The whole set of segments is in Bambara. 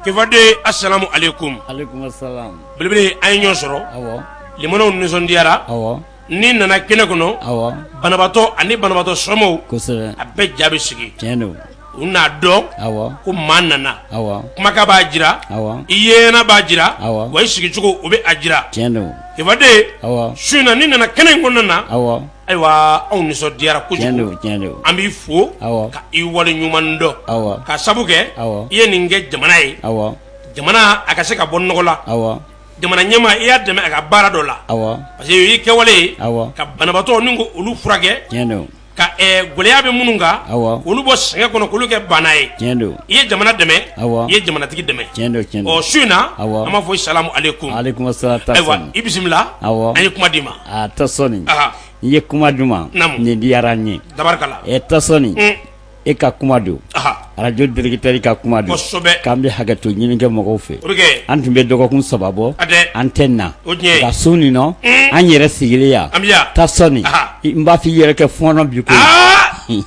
Kefaden asalamu alekum belebele an ye ɲɔgɔn sɔrɔ limanw nisɔndiyara n'i nana kɛnɛ kɔnɔ banabatɔ ani banabatɔ somɔgɔw a bɛɛ ja bɛ sigi u n'a dɔn ko maa nana kumakan b'a jira i yena b'a jira wa i sigicogo o bɛ a jira kefaden su in na n'i nana kɛnɛ in kɔnɔna na Ayiwa anw nisɔndiyara kojugu an b'i fo ka i wale ɲuman dɔn k'a sabu kɛ i ye nin kɛ jamana ye jamana a ka se ka bɔ nɔgɔ la jamana ɲɛmaa i y'a dɛmɛ a ka baara dɔ la parce que y'i kɛwale ye ka banabatɔ nin k'olu furakɛ ka gɛlɛya bɛ minnu kan k'olu bɔ sɛgɛn kɔnɔ k'olu kɛ baana ye i ye jamana dɛmɛ i ye jamanatigi dɛmɛ su in na an b'a fɔ i salamu alekum ayiwa i bisimila an ye kuma d'i ma A Tasɔni i ye kuma duman naamu nin diyara n ye Tasɔni e ka kuma don arajo directeur ka kuma don k'an bɛ hakɛto ɲini kɛ mɔgɔw fɛ an tun bɛ dɔgɔkun saba bɔ an tɛ na nka su nin nɔ an yɛrɛ sigilen yan Tasɔni n b'a fɔ i yɛrɛ kɛ fɔɔnɔ bi koyi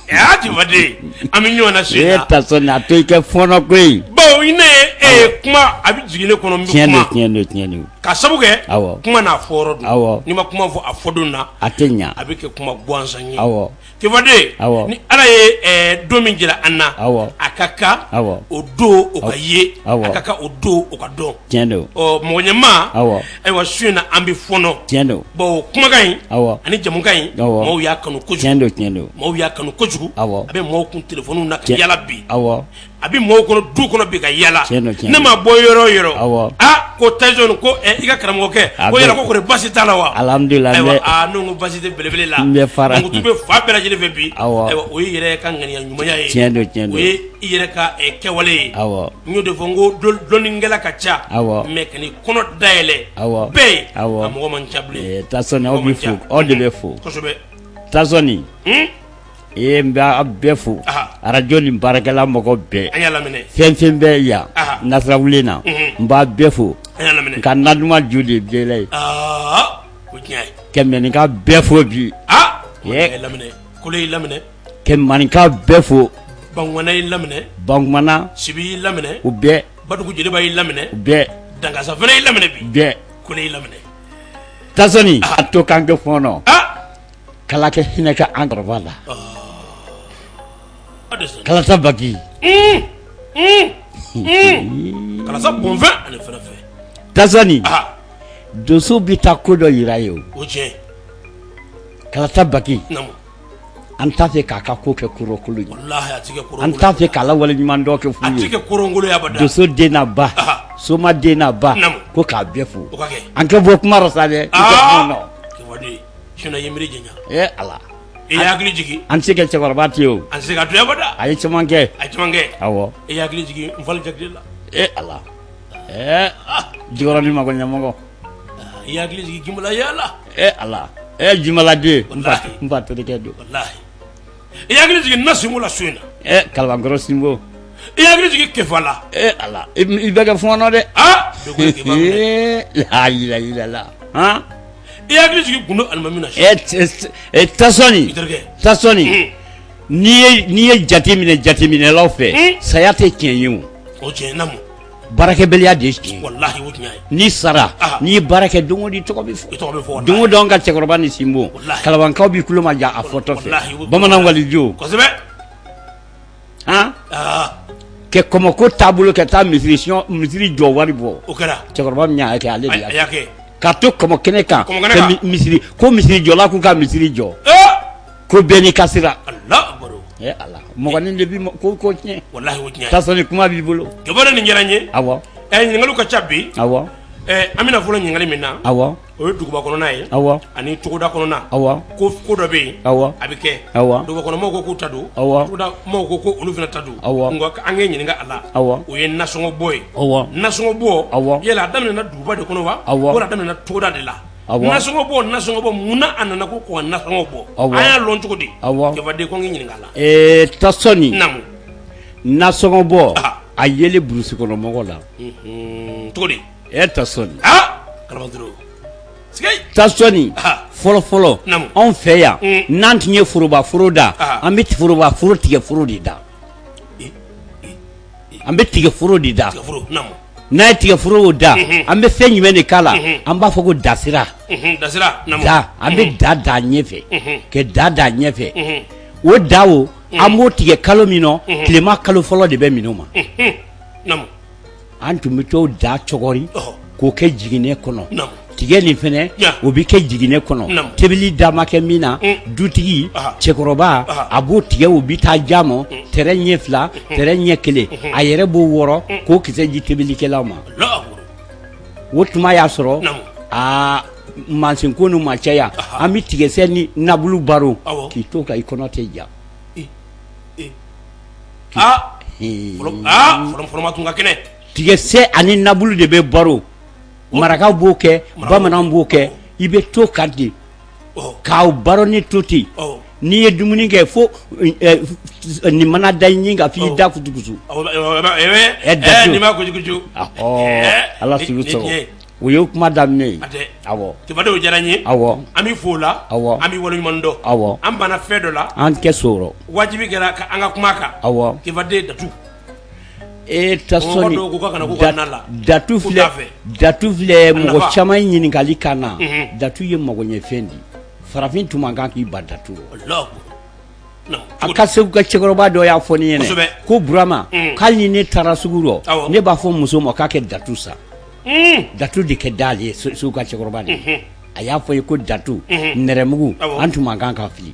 an bɛ ɲɔgɔn na su in na Tasɔni a to i kɛ fɔɔnɔ koyi bon n'e kuma a bɛ jigin ne kɔnɔ tiɲɛn tiɲɛn don tiɲɛn don k'a sabu kɛ awɔ kuma n'a fɔ yɔrɔ don awɔ n'i ma kuma fɔ a fɔ don na a tɛ ɲa a bɛ kɛ kuma gansan ye awɔ Kefaden awɔ ni ala ye ɛɛ don min jira an na awɔ a ka kan awɔ o don o ka ye awɔ a ka kan o don o ka dɔn tiɲɛ don ɔ mɔgɔ ɲɛma awɔ ayiwa su in na an bɛ fɔɔnɔ tiɲɛ don bon kumakan in awɔ ani jamukan in Awɔ. maaw y'a kanu kojugu tiɲɛ don tiɲɛ don maaw y'a kanu kojugu Awɔ. a bɛ maaw kun telefoniw na ka yaala bi awɔ a bɛ maaw kɔnɔ du kɔnɔ bi ka yaala ne ma bɔ yɔrɔ o yɔrɔ ko Tasɔni ko i ka karamɔgɔkɛ ko yala kɔri basi t'a la wa n ko basi tɛ belebele la tɔgɔ bɛ fan bɛɛ lajɛlen fɛ bi ayiwa o ye i yɛrɛ ka ŋaniya ɲumanya ye o ye i yɛrɛ ka kɛwale ye n y'o de fɔ n ko dɔnnikɛla ka ca mais ka n'i kɔnɔ dayɛlɛ bɛɛ ye a mɔgɔ man ca bilen aw de bɛ fo kosɛbɛ Tasɔni Ee n bɛ aw bɛɛ fo arajo nin baarakɛla mɔgɔ bɛɛ fɛn fɛn bɛ yan Nasirawulen na n b'a bɛɛ fo nka na duman ju de bɛɛla ye ka maninka bɛɛ fo bi ka maninka bɛɛ fo Bankumana y'i laminɛ Bankumana Sibi y'i laminɛ u bɛɛ Badugu Joliba y'i laminɛ u bɛɛ Dangasa fana y'i laminɛ bi bɛɛ Kɔlɛ y'i laminɛ Tasɔni a to k'an kɛ fɔɔnɔ k'Ala ka hinɛ kɛ an kɔrɔba la kalata baki donso bɛ taa ko dɔ jira ye o kalata baki an t'a fɛ k'a ka ko kɛ kolon an t'a fɛ k'a la wale ɲuman kɛ donso den n'a ba soma den n'a ba ko k'a bɛɛ fo an kɛ bɔ kuma rɔ sa dɛ Sinon i ye miiri janya. Ee Ala. I y'an hakili jigin. An tɛ se ka cɛkɔrɔba to yen o. An tɛ se ka to yen abada. A ye caman kɛ. A ye caman kɛ. Awɔ. I y'an hakili jigin Nfali Jakite la. Ee Ala. Ɛɛ Jikɔrɔni magoɲɛmɔgɔ. I y'an hakili jigin Jinbala yala. Ee Ala. Ee Jinbala den. Walahi. N fa terikɛ don. Walahi. i y'an hakili jigin Nasinko la so in na ɛ Kalabankɔrɔ sinbo i y'an hakili jigin Kefa la ɛ ala i bɛ kɛ fɔɔnɔ dɛ aa layilala han i y'an hakili jigin Gundo alimami na ɛ tasɔni tasɔni hmm. n'i ye n'i ye jate minɛ jateminɛlaw fɛ hmm. saya tɛ tiɲɛ ye o o tiɲɛ namu baarakɛbaliya de ye tiɲɛ ye. walahi o tiɲɛ ye n'i sara Aha. n'i ye baara kɛ don o don i tɔgɔ bɛ fɔ i tɔgɔ bɛ fɔ walahi. don o don an ka cɛkɔrɔba ni sinbo Walahi. kalabankaw b'i tulo majɔ a fɔtɔ fɛ Walahi, o- bamanan waliju kosɛbɛ han aa kɛ kɔmɔko taabolo kɛ taa misiri siyɔn- misiri jɔ wari bɔ o kɛra cɛkɔrɔba min y'a kɛ ale de a y'a kɛ y'a kɛ k'a to kɔmɔ kɛnɛ kan Kɔmɔ kɛnɛ kan. mi- misiri ko misiri jɔla k'u ka misiri jɔ ee ko bɛɛ n'i ka sira Allah akbar ee Ala mɔgɔnin de bɛ ko tiɲɛ walahi o tiɲɛ ye tasɔni kuma b'i bolo ja nin diyara n ye awɔ ɲininkali ka ca bi awɔ an bɛna fɔlɔ ɲininkali min na awɔ o ye duguba kɔnɔna ye awɔ ani togoda kɔnɔna awɔ ko dɔ bɛ yen awɔ a bɛ kɛ awɔ dugubakɔnɔmɔgɔw ko k'u ta don awɔ togoda mɔgɔw ko ko olu fana ta don awɔ nka an k'i ɲininka a la awɔ o ye nasɔngɔbɔ ye awɔ nasɔngɔbɔ awɔ yala a daminɛna duguba de kɔnɔ wa awɔ wala a daminɛna togoda de la nasɔngɔ bɔ nasɔngɔ bɔ munna a nana ko ka nasɔngɔ bɔ awɔ an y'a lɔn cogo di awɔ Kefa den ko n k'i ɲininka a la ee tasɔni namu nasɔngɔ bɔ a yelen burusi kɔnɔ mɔgɔ la cogo di e tasɔni tasɔni fɔlɔfɔlɔ namu anw fɛ yan n'an tun ye foroba foro da an bɛ foroba foro tigɛforo de da an bɛ tigɛforo de da n'an ye tigɛforo da an bɛ fɛn jumɛn de k'a la an b'a fɔ ko dasira an bɛ da da ɲɛfɛ ka da da ɲɛfɛ o da o an b'o tigɛ kalo min na tilema kalo fɔlɔ de bɛ minnu ma namu an tun bɛ t'o da cogori k'o kɛ jiginɛ kɔnɔ tigɛ nin fana o bɛ kɛ jiginɛ kɔnɔ tobili da ma kɛ min na dutigi cɛkɔrɔba a b'o tigɛ u bɛ taa ja ma tɛrɛ ɲɛ fila tɛrɛ ɲɛ kelen a yɛrɛ b'o wɔrɔ k'o kisɛ di tobilikɛlaw ma o tuma y'a sɔrɔ aa mansin ko nu ma caya an bɛ tigɛsɛ ni nabulu baro k'i to kan i kɔnɔ tɛ ja aa fɔlɔma tun ka kɛnɛ tigɛsɛ ani nabulu de bɛ baro marakaw b'o kɛ bamananw b'o kɛ i bɛ to ka di k'aw baro ni to ten n'i ye dumuni kɛ fo nin mana da ɲin kan f'i da kutukusu ala o ye kuma daminɛ ye denw diyara n ye awɔ an bɛ fo la awɔ an bɛ waleɲuman dɔn awɔ an banna fɛn dɔ la an tɛ sɔrɔ wajibi kɛra an ka kuma kan awɔ den datu e tasɔni datu datu filɛ mɔgɔ caman ɲininkali ka na datu ye magoɲɛfɛn di farafin tun man kan k'i ban datu a ka segu ka cɛkɔrɔba dɔ y'a fɔ ne ɲɛna ko burama hali ni ne taara sugu rɔ ne b'a fɔ muso ma k'a kɛ datu san datu de ka d'ale ye segu ka cɛkɔrɔba de a y'a fɔ ye ko datu nɛrɛmugu an tun man kan k'a fili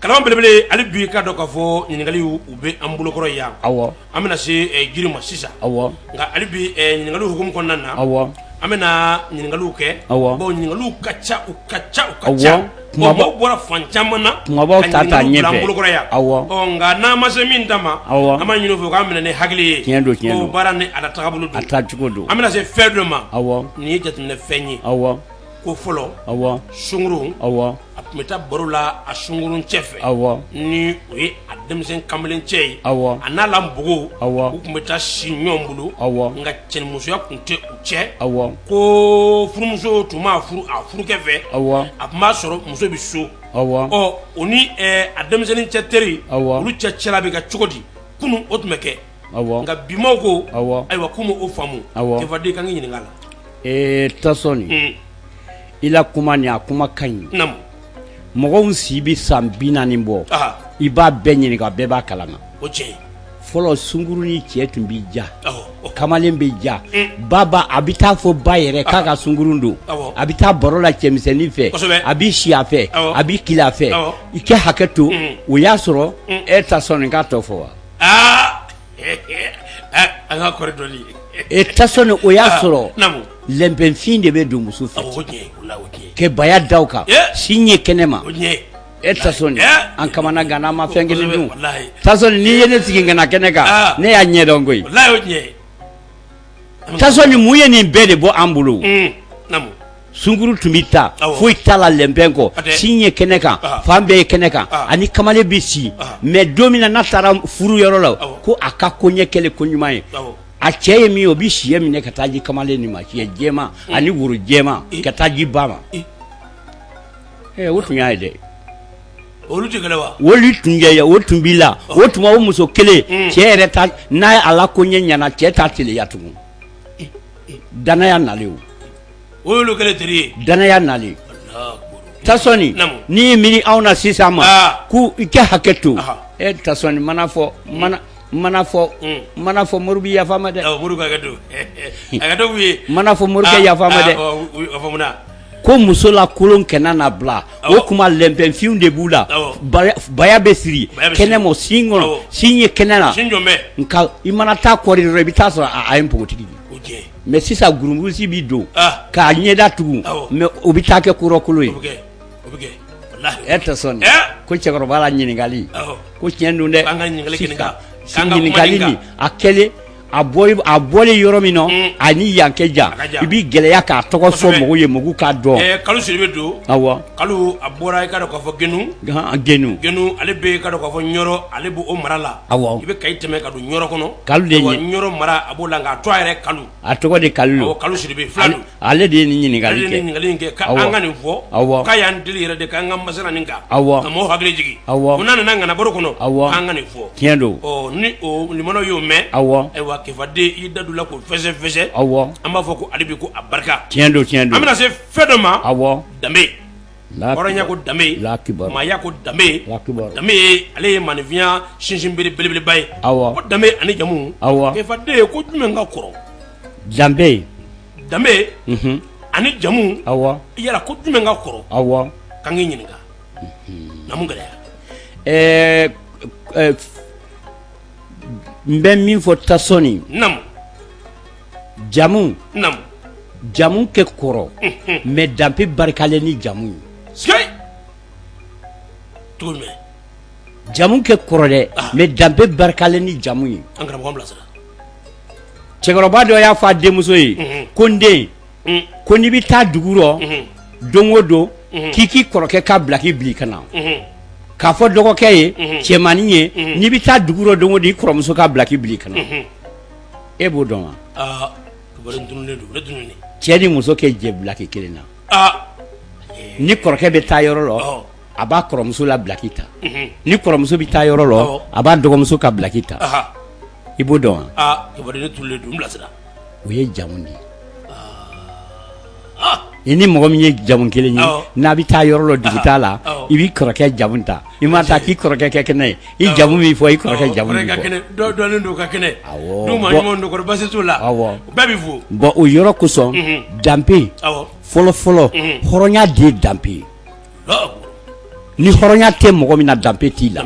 kalama belebele hali bi k'a dɔn k'a fɔ ɲininkaliw bɛ an bolokɔrɔ yan awɔ an bɛna se jiri ma sisan awɔ nka hali bi ɲininkaliw hukumu kɔnɔna na awɔ an bɛna ɲininkaliw kɛ awɔ bawo ɲininkaliw ka ca u ka ca u ka ca mɔgɔ bɔra fan caman na bolokɔrɔ yan awɔ nka n'an ma se min ta ma awɔ an b'a ɲini u fɛ k'an minɛ ni hakili ye tiɲɛ don tiɲɛ baara ni a taabolo don a taacogo don an bɛna se fɛn dɔ ma awɔ nin ye jateminɛ fɛn ye awɔ ko fɔlɔ awɔ sunkurun awɔ a tun bɛ taa baro la a sunkurun cɛ fɛ ni o ye a denmisɛn kamalen cɛ ye a n'a la npogo u tun bɛ taa si ɲɔgɔn bolo awɔ nka cɛnimusoya tun tɛ u cɛ awɔ ko furumuso tun mana furu a furukɛ fɛ awɔ a tun b'a sɔrɔ muso bɛ so awɔ o ni a denmisɛnnin cɛ teri awɔ olu cɛ cɛla bɛ kɛ cogo di kunun o tun bɛ kɛ nka bimaw ko ayiwa k'u m'o faamu tɛden kan k'i ɲininka la ee tasɔni i la kuma nin a kuma ka ɲi mɔgɔw si bɛ san bi naani bɔ i b'a bɛɛ ɲininka bɛɛ b'a kalama fɔlɔ sunkuru ni cɛ tun bɛ ja kamalen bɛ ja mm. baba a bɛ t'a fɔ ba yɛrɛ k'a ka sunkurun don a bɛ taa baro la cɛmisɛnnin fɛ a bɛ si a fɛ a bɛ kile a fɛ i ka hakɛ to mm. o y'a sɔrɔ mm. e tasɔni n k'a tɔgɔ fɔ wa aa an ka kɔrɔ dɔɔni e tasɔni o y'a ah, sɔrɔ lɛnpɛnfin de bɛ don muso fɛ ka baya da a kan si ɲɛ kɛnɛ ma e tasɔni an kamana ganna an ma fɛn kelen dun tasɔni n'i ye ne sigi ka na kɛnɛ kan ah. ne y'a ɲɛdɔn koyi Tasɔni mun ye nin bɛɛ de bɔ an bolo sunguru tun bɛ taa foyi t'a la lɛnpɛn kɔ sin ye kɛnɛ kan fan bɛɛ ye kɛnɛ kan ani kamalen bɛ si mɛ don min na n'a taara furu yɔrɔ la ko a ka koɲɛ kɛlen koɲuman ye a cɛ ye min ye o bɛ siyɛ minɛ ka taa di kamalen nin ma siyɛ jɛma ani woro jɛma ka taa di ba ma o tun y'a ye dɛ olu tun tun o tun b'i la o tuma o muso kelen mm. cɛ yɛrɛ n'a ye a la koɲɛ ɲɛna cɛ t'a keleya tugun danaya nalen danaya nalen tasɔni n'i ye miiri anw na sisan ma ah. ko i kɛ hakɛ to e tasɔni mana fɔ mana mana fɔ mm. mana fɔ mori bɛ yafa ma dɛ mana fɔ morikɛ yafa ma dɛ ko muso lakolon kɛnɛ na bila o kuma lɛnpɛnfinw de b'u la baya bɛ siri kɛnɛ ma sin kɔnɔ sin ye kɛnɛ na nka i mana taa kɔɔri dɔrɔn i bɛ taa sɔrɔ a ye npogotigi ye mɛ sisan burumusi bɛ don k'a ɲɛ datugu mɛ o bɛ taa kɛ kɔrɔkolo ye tasɔni ko cɛkɔrɔba la ɲininkali ko tiɲɛ don dɛ ɲininkali nin a kɛlen a bɔlen yɔrɔ min na a ni yan kɛ jan i bɛ gɛlɛya k'a tɔgɔ fɔ mɔgɔw ye mɔgɔw k'a dɔn kalu sidibe don awɔ kalu a bɔra i k'a dɔn k'a fɔ genu genu genu ale bɛ i k'a dɔn k'a fɔ ɲɔrɔ ale b'o mara la awɔ i bɛ kayi tɛmɛ ka don ɲɔrɔ kɔnɔ kalu de ye ɲɔrɔ mara a b'o la nka a to a yɛrɛ kalu a tɔgɔ de kalu kalu sidibe fila don Ale de ye nin ɲininkali ale de ɲininkali in kɛ k'an ka nin fɔ awɔ k'a y'an deli yɛrɛ de k'an ka masala nin kan awɔ ka maaw hakili jigin awɔ ko n'an nana ŋanabaro kɔnɔ awɔ k'an ka nin fɔ tiɲɛ don lamɛnnaw y'o mɛn awɔ ayiwa kefaden y'i da don a la k'o fɛsɛfɛsɛ awɔ an b'a fɔ ko ale bi ko a barika tiɲɛ don tiɲɛ don an bɛna se fɛn dɔ ma awɔ danbe hɔrɔnya ko danbe maaya ko danbe danbe ale ye maaninfinya sinsinbere belebeleba ye awɔ ko danbe ani jamu awɔ kefaden ye ko jumɛn ka kɔrɔ danbe danbe ani jamu awɔ yala ko jumɛn ka kɔrɔ awɔ k'an k'i ɲininka naamu gɛlɛya ɛɛ n bɛ min fɔ tasɔni jamu naamu jamu kɛ kɔrɔ unhun mais danbe barikalen ni jamu ye sikeyi cogo jumɛn jamu kɛ kɔrɔ dɛ ah. mais danbe barikalen ni jamu ye an karamɔgɔ an bilasira cɛkɔrɔba dɔ y'a fɔ a denmuso ye unhun ko n den un ko n'i bɛ taa dugu rɔ unhun don o don unhun k'i k'i kɔrɔkɛ ka bila k'i bili ka na unhun k'a fɔ dɔgɔkɛ ye unhun cɛmannin ye unhun n'i bɛ taa dugu rɔ don o don i kɔrɔmuso ka bila k'i bili ka na unhun e b'o dɔn wa aa kibaru dununnen don ne dununnen cɛ ni muso kɛ jɛ bulaki kelen na aa ni kɔrɔkɛ bɛ taa yɔrɔ lɔ Ɔhɔ. a b'a kɔrɔmuso la bulaki ta Mhm. ni kɔrɔmuso bɛ taa yɔrɔ lɔ Ɔhɔ. a b'a dɔgɔmuso ka bulaki ta aha i b'o dɔn wa aa kibaru ne dununnen don n bilasira o ye jamu de ye i ni mɔgɔ min ye jamu kelen ye n'a bɛ taa yɔrɔ lɔ dugutaa la i b'i kɔrɔkɛ jamu ta i ma taa k'i kɔrɔkɛ kɛ kɛnɛ ye i jamu min fɔ i kɔrɔkɛ jamu la bon o yɔrɔ kosɔn danbe fɔlɔ fɔlɔ hɔrɔnya de ye danbe ye ni hɔrɔnya tɛ mɔgɔ min na danbe t'i la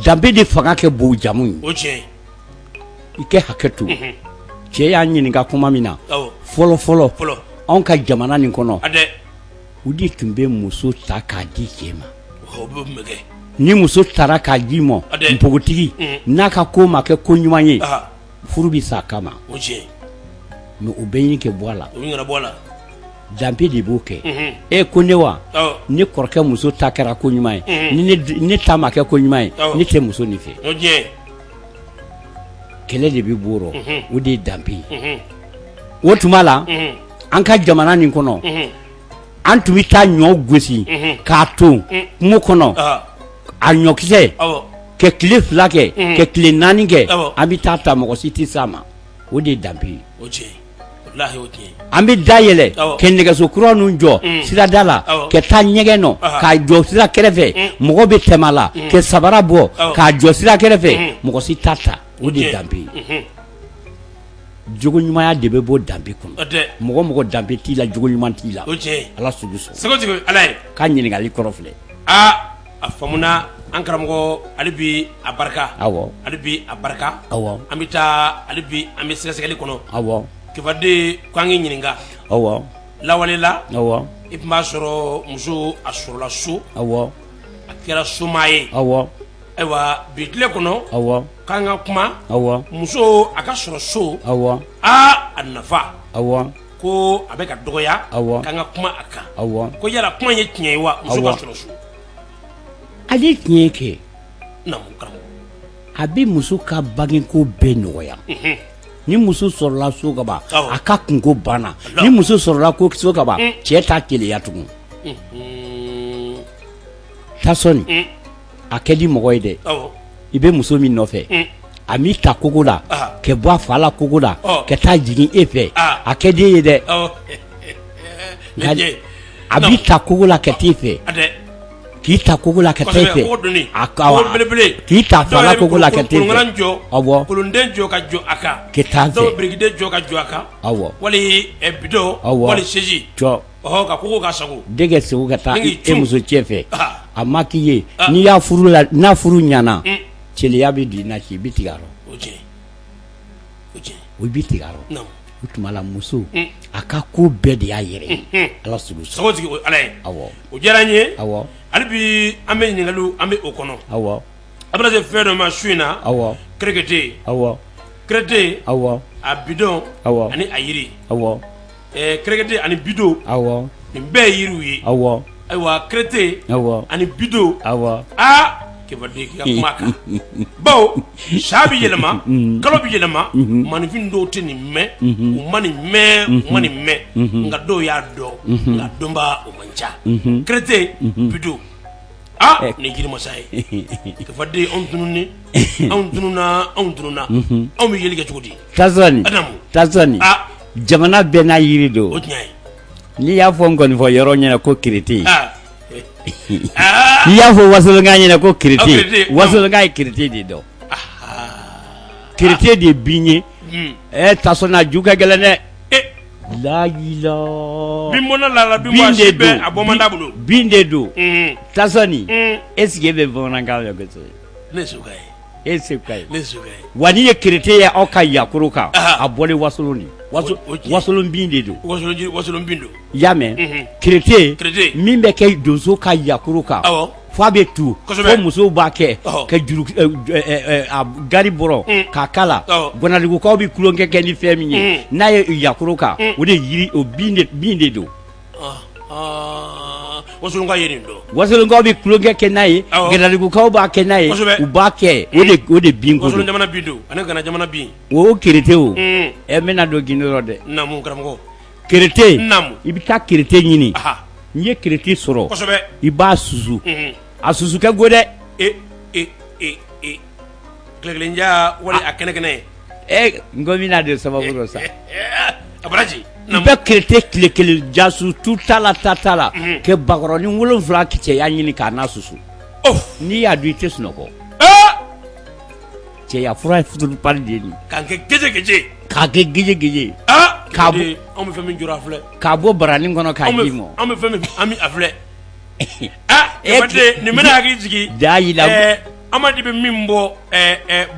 danbe de fanga kɛ bon jamu ye i kɛ hakɛ to cɛ y'an ɲininka kuma min na fɔlɔ fɔlɔ anw ka jamana nin kɔnɔ u de tun bɛ muso ta k'a di cɛ ma ni muso taara k'a ji ma npogotigi n'a ka ko ma kɛ ko ɲuman ye furu bɛ sa a kama ma mɛ u bɛ ɲi kɛ bɔ a la danbe de b'o kɛ e ko ne wa ne kɔrɔkɛ muso ta kɛra ko ɲuman ye ne ta ma kɛ ko ɲuman ye ne tɛ muso nin fɛ kɛlɛ de bɛ bɔ o rɔ o de ye danbe ye o tuma la an ka jamana nin kɔnɔ an tun bɛ taa ɲɔ gosi k'a to kungo kɔnɔ a ɲɔkisɛ ka tile fila kɛ ka tile naani kɛ an bɛ taa a ta mɔgɔ si tɛ s'a ma o de ye danbe ye an bɛ da yɛlɛ kɛ nɛgɛso kura ninnu jɔ mm. sirada la ka taa ɲɛgɛn nɔ k'a jɔ sira kɛrɛfɛ mm. mɔgɔ bɛ tɛmɛ a la mm. ka sabara bɔ k'a jɔ sira kɛrɛfɛ mɔgɔ si t'a ta o de danbe ye mm-hmm. jogo ɲumanya de bɛ bɔ danbe kɔnɔ mɔgɔ mɔgɔ danbe t'i la jogo ɲuman t'i la ala sugu sɔrɔ k'a ɲininkali kɔrɔ filɛ a faamuna an karamɔgɔ ali bi a barika awɔ ali bi a barika awɔ an bɛ taa ali bi an bɛ sɛgɛsɛgɛli kɔnɔ awɔ kifaden ko an k'i ɲininka awɔ lawale la awɔ i tun b'a sɔrɔ muso a sɔrɔla so awɔ a kɛra somaa ye awɔ ayiwa bi tile kɔnɔ awɔ k'an ka kuma awɔ muso a ka sɔrɔ so awɔ aa a nafa awɔ ko a bɛ ka dɔgɔya k'an ka kuma a kan ko yala kuma ye tiɲɛ ye wa muso ka sɔrɔ so ale ye tiɲɛ ye kɛ a bɛ muso ka bangeko bɛɛ nɔgɔya mhm. ni muso sɔrɔla so kaban a ka kunko banna ni muso sɔrɔla ko so kaban mm. cɛ t'a keleya tugun mhm. tasɔni mm. a kɛ di mɔgɔ ye dɛ i bɛ muso min nɔfɛ a b'i ta kogo la ka bɔ a fa la kogo la ka taa jigin e fɛ a kɛ di e ye dɛ a b'i ta kogo la ka t'i fɛ k'i ta kogo la ka taa fɛ k'i ta fa la kogo la ka t'i fɛ awɔ kolonden jɔ ka jɔ a kan ka taa fɛ birikiden jɔ ka jɔ a kan awɔ wali bidon wali segi jɔ denkɛ segu ka taa e muso cɛ fɛ a ma k'i ye n'i y'a furu la n'a furu ɲana keleya bɛ don i na i bɛ tigɛ a rɔ o bɛ tigɛ a rɔ o tuma la muso a ka ko bɛɛ de y'a yɛrɛ ala ala ye o diyara n ye hali bi an bɛ ɲininkali an bɛ o kɔnɔ awɔ a bɛna se fɛn dɔ ma su in na awɔ kɛrɛkɛte awɔ kɛrɛte awɔ a bido awɔ ani a yiri awɔ kɛrɛkɛte ani bido awɔ nin bɛɛ ye yiriw ye awɔ ayiwa kɛrɛte awɔ ani bido awɔ aa kebaden ma kan bawo san bɛ yɛlɛma kalo bɛ yɛlɛma maaninfin dɔw tɛ nin mɛn u ma nin mɛn u ma nin mɛn nka dɔw y'a dɔn nka dɔnbaa o man ca kɛrɛte bido aa nin jirimasa ye kebaden anw tunun anw tununna anw tununna anw bɛ yeli kɛ cogo di tasɔni jamana bɛɛ n'a yiri don o tiɲɛ n'i y'a fɔ nkɔnifɔ yɔrɔ ɲɛ na ko kɛrɛte ah. ah. n'i y'a fɔ wasolonka ɲɛ na ko kɛrɛte wasolonka ye kɛrɛte de dɔn kɛrɛte de ye bin ye hmm. ɛ tasɔnna ju ka gɛlɛn dɛ eh. layila bin mɔna lala bin wa si bɛɛ a bɔ man d'a bolo bin de don hmm. tasɔni hmm. est ce que e bɛ bamanankan mɛn kosɛbɛ ne e ye wa n'i ye kɛrɛte ye aw ka yakoro kan a bɔlen wasolon de wasolon bin de don wasolon bin don i y'a mɛn kɛrɛte min bɛ kɛ donso ka yakoro kan fo a bɛ tu fo musow b'a kɛ ka gari bɔrɔ k'a kala ganadugukaw bɛ tulonkɛ kɛ ni fɛn min ye n'a ye yakoro kan o de yiri bin de don Wasolonkaw ye nin dɔn wasolonkaw bɛ tulonkɛ kɛ n'a ye ganadugukaw b'a kɛ n'a ye u b'a kɛ o de o de bin ko jamana bin don an ka gana jamana bin o kɛrɛte o ɛ n bɛna don gundo rɔ dɛ naamu karamɔgɔ kɛrɛte naamu i bɛ taa kɛrɛte ɲini n'i ye kɛrɛte sɔrɔ i b'a susu a susu kɛ go dɛ Kelenja wali a kɛnɛ kɛnɛ ye n ko bɛna de sababu dɔ sa aji n bɛ kerete tile kelen jaso tu t'a la ta t'a la ka bakɔrɔnin wolonwula ka cɛya ɲini k'a n'a susu n'i y'a dun i tɛ sunɔgɔ cɛya fura fu pali de don ka kɛ gese k'a kɛ gese gese k'a bɛ fɛn min jɔ filɛ k'a bɔ baranin kɔnɔ k'a d'i ma an bɛ an bɛ a filɛ nin bɛna hakili jigin jaa jira Amadu bɛ min bɔ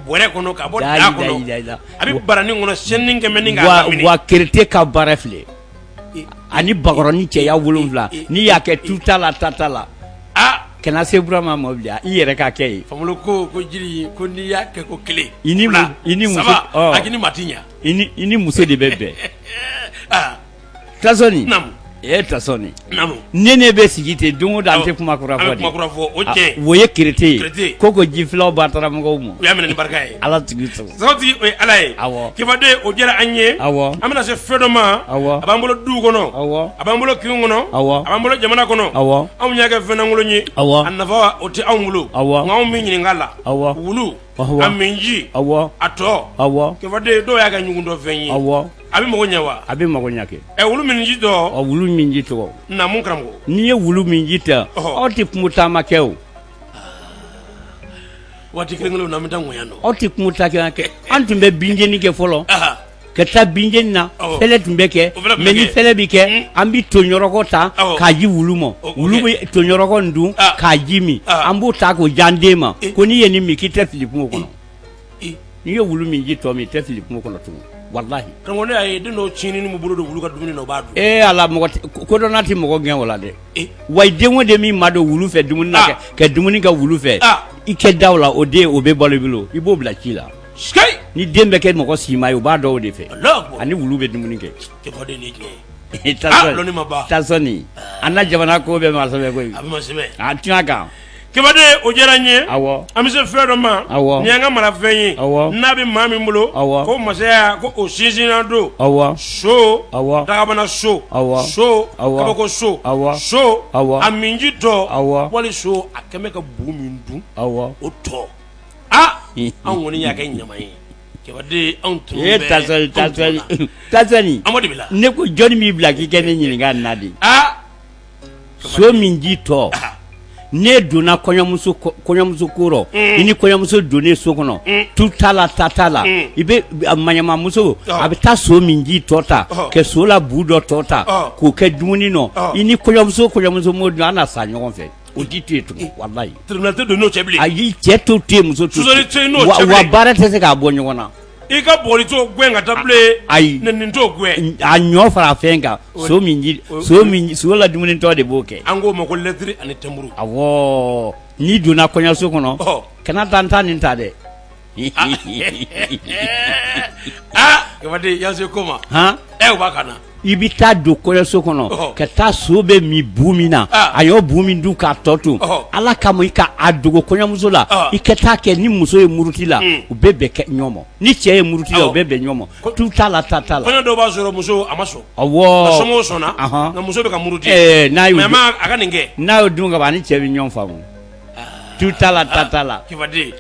bɔrɛ kɔnɔ ka bɔ daa kɔnɔ a bɛ baranin kɔnɔ sini kɛmɛ kerete ka baara filɛ ani bakɔrɔnin cɛya wolonwula n'i y'a kɛ tu t'a la ta t'a la a kana se Burama ma bilen i yɛrɛ k'a kɛ ye Famolo ko ko jiri ko n'i y'a kɛ ko kelen i ni maa tɛ ɲɛ i ni muso de bɛ bɛn Tasɔni naamu ee Tasɔni naamu ne ne bɛ sigi ten don o don an tɛ kuma kura fɔ de o ye kerete ye ko ko ji filaw ba taara mɔgɔw ma u y'a minɛ ni barika ye ala tigi sago sago tigi o ye ala ye awɔ Kebaden o diyara an ye awɔ an bɛna se fɛn dɔ ma awɔ a b'an bolo duw kɔnɔ awɔ a b'an bolo kinw kɔnɔ awɔ a b'an bolo jamana kɔnɔ awɔ anw y'a kɛ fɛn lankolon ye awɔ a nafa o tɛ anw bolo awɔ nka anw bɛ ɲininka a la awɔ wulu Ɔwɔ. A min ji. Ɔwɔ. A tɔ. Ɔwɔ. Kebaden dɔw y'a kɛ ɲugun dɔ fɛn ye. Ɔwɔ. A bɛ mago ɲɛ wa? A bɛ mago ɲɛ kɛ. Ɛ wulu min ji tɔ. Ɔ wulu min ji tɔ. Naamu karamɔgɔ. N'i ye wulu min ji ta. Ɔhɔ. Aw tɛ kungo taama kɛ o. Waati kelen kelen na an bɛ taa ŋɔɲa nɔ. Aw tɛ kungo taama kɛ. An tun bɛ binjeni kɛ fɔlɔ. Aha. ka taa bin jeni na awɔ fɛlɛ tun bɛ kɛ O fana tun bɛ mais ni kɛ. fɛlɛ bɛ kɛ Mm. an bɛ toɲɔrɔkɔ ta Awɔ. k'a ji wulu ma O- o wulu kɛ. bɛ toɲɔrɔkɔ in dun Ah. k'a ji min Ah. an b'o ta k'o di an den ma Eh. ko n'i ye nin min k'i tɛ fili kungo kɔnɔ Eh. n'i ye wulu min ji tɔ min i tɛ fili kungo kɔnɔ tugun walahi karamɔgɔ ne y'a ye den dɔw tiɲɛni min bolo don wulu ka dumuni na o b'a dun ee ala mɔgɔ tɛ- ko- kodɔnna tɛ mɔgɔ gɛn o la dɛ Eh. wa i den o den min ma don wulu fɛ dumuni na Ah. kɛ- ka dumuni kɛ wulu fɛ Ah. i kɛ da o la o den o bɛ balo i bolo i b'o bila ci la ni den bɛ kɛ mɔgɔ sima ye o b'a dɔn o de fɛ ani wulu bɛ dumuni kɛ Tasɔni an na jamana ko bɛɛ ma sɛbɛn koyi a bɛɛ ma sɛbɛn a tiɲɛ kan Kebaden o diyara n ye an bɛ se fɛn dɔ ma nin y'an ka marafɛn ye n'a bɛ maa min bolo ko masaya ko o sinsinnan don so daabana so so kabako so so a minji tɔ wali so a kɛmɛ ka bu min dun o tɔ anw kɔni y'a kɛ ɲama ye Tasɔni ne ko jɔnni b'i bila k'i kɛ ne ɲininka na de so min ji tɔ ne donna kɔɲɔmuso ko rɔ i ni kɔɲɔmuso donnen so kɔnɔ tu t'a la ta t'a la i bɛ maɲamamuso a bɛ taa so min ji tɔ ta ka so la bu dɔ tɔ ta k'o kɛ dumuni nɔ i ni kɔɲɔmuso kɔɲɔmuso m'o dun aw na sa ɲɔgɔn fɛ O tɛ to yen tugun walayi tribunal tɛ don o cɛ bilen ayi cɛ t'o to yen muso t'o to yen wa baara tɛ se k'a bɔ ɲɔgɔn na i ka bugɔli t'o gɛn ka taa bilen ayi nin t'o gɛn a ɲɔ fara fɛn kan so so la dumunitɔ de b'o kɛ an k'o ma ko lɛtiri ani tɛnburu awɔ n'i donna kɔɲɔso kɔnɔ kana taa n taa nin ta dɛ yanse ko ma e b'a ka na i bɛ taa don kɔɲɔso kɔnɔ ka taa so bɛ min bu min na a y'o bu min dun k'a tɔ to ala kama i ka a dogo kɔɲɔmuso la i ka taa kɛ ni muso ye muruti la u bɛ bɛn kɛ ɲɔgɔn ma ni cɛ ye muruti la u bɛ bɛn ɲɔgɔn ma tu t'a la ta t'a la kɔɲɔ dɔw b'a sɔrɔ muso a ma sɔn awɔ a somɔgɔw sɔnna nka muso bɛ ka muruti a ka nin kɛ n'a y'o dun ka ban a ni cɛ bɛ ɲɔgɔn faamu tu t'a la ta t'a la Kefade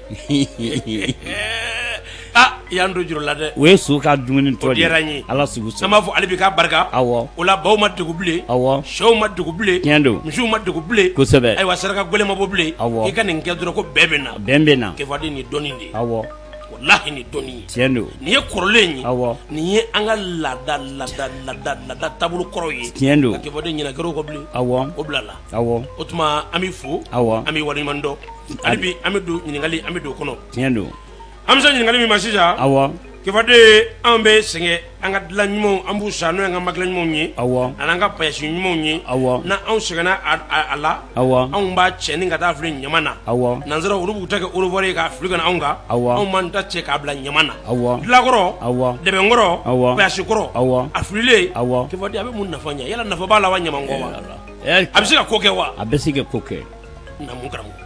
aa i y'an don juru la dɛ o ye so ka dumuni tɔ de ye o diyara an ye Ala sago i sago an b'a fɔ Alabi k'a barika awɔ o la baw ma degun bilen awɔ sɛw ma degun bilen tiɲɛ don misiw ma degun bilen kosɛbɛ ayiwa saraka gɛlɛn ma bɔ bilen Awɔ. i ka nin kɛ dɔrɔn ko bɛɛ bɛ na bɛn bɛ na Kefade nin dɔnni de ye awɔ walahi nin dɔnni ye tiɲɛ don nin ye kɔrɔlen ye awɔ nin ye an ka laada laada laada laada taabolo kɔrɔw ye tiɲɛ don ka Kefade ɲinɛ gɛrɛw kɔ bilen awɔ o bila la Awɔ. O tuma an b'i fo. Awɔ. An b'i waleɲuman dɔn. Hali bi an bɛ don ɲininkali an bɛ don o kɔnɔ. Tiɲɛ don. An bɛ se ɲininkali min ma sisan. Awɔ. Kefade anw bɛ sɛgɛn an ka dilan ɲumanw an b'u san n'o y'an ka makila ɲumanw ye. Awɔ. A n'an ka payasi ɲumanw ye. Awɔ. Ni anw sɛgɛnna a la. Awɔ. Anw b'a cɛni ka taa fili ɲaman na. Awɔ. Nansaraw olu b'u ta kɛ orevoir ye k'a fili ka na anw kan. Awɔ. Anw b'an ta cɛ k'a bila ɲaman na. Awɔ. Dilankɔrɔ. Awɔ. Dɛbɛnkɔrɔ. Awɔ. Payasikɔrɔ. Awɔ. A fililen. Awɔ. Kefade a bɛ mun nafa ɲɛ? Yala nafa b'a la wa ɲaman kɔ wa? a bɛ se ka ko kɛ wa a bɛ se ka ko kɛ naamu karamɔgɔ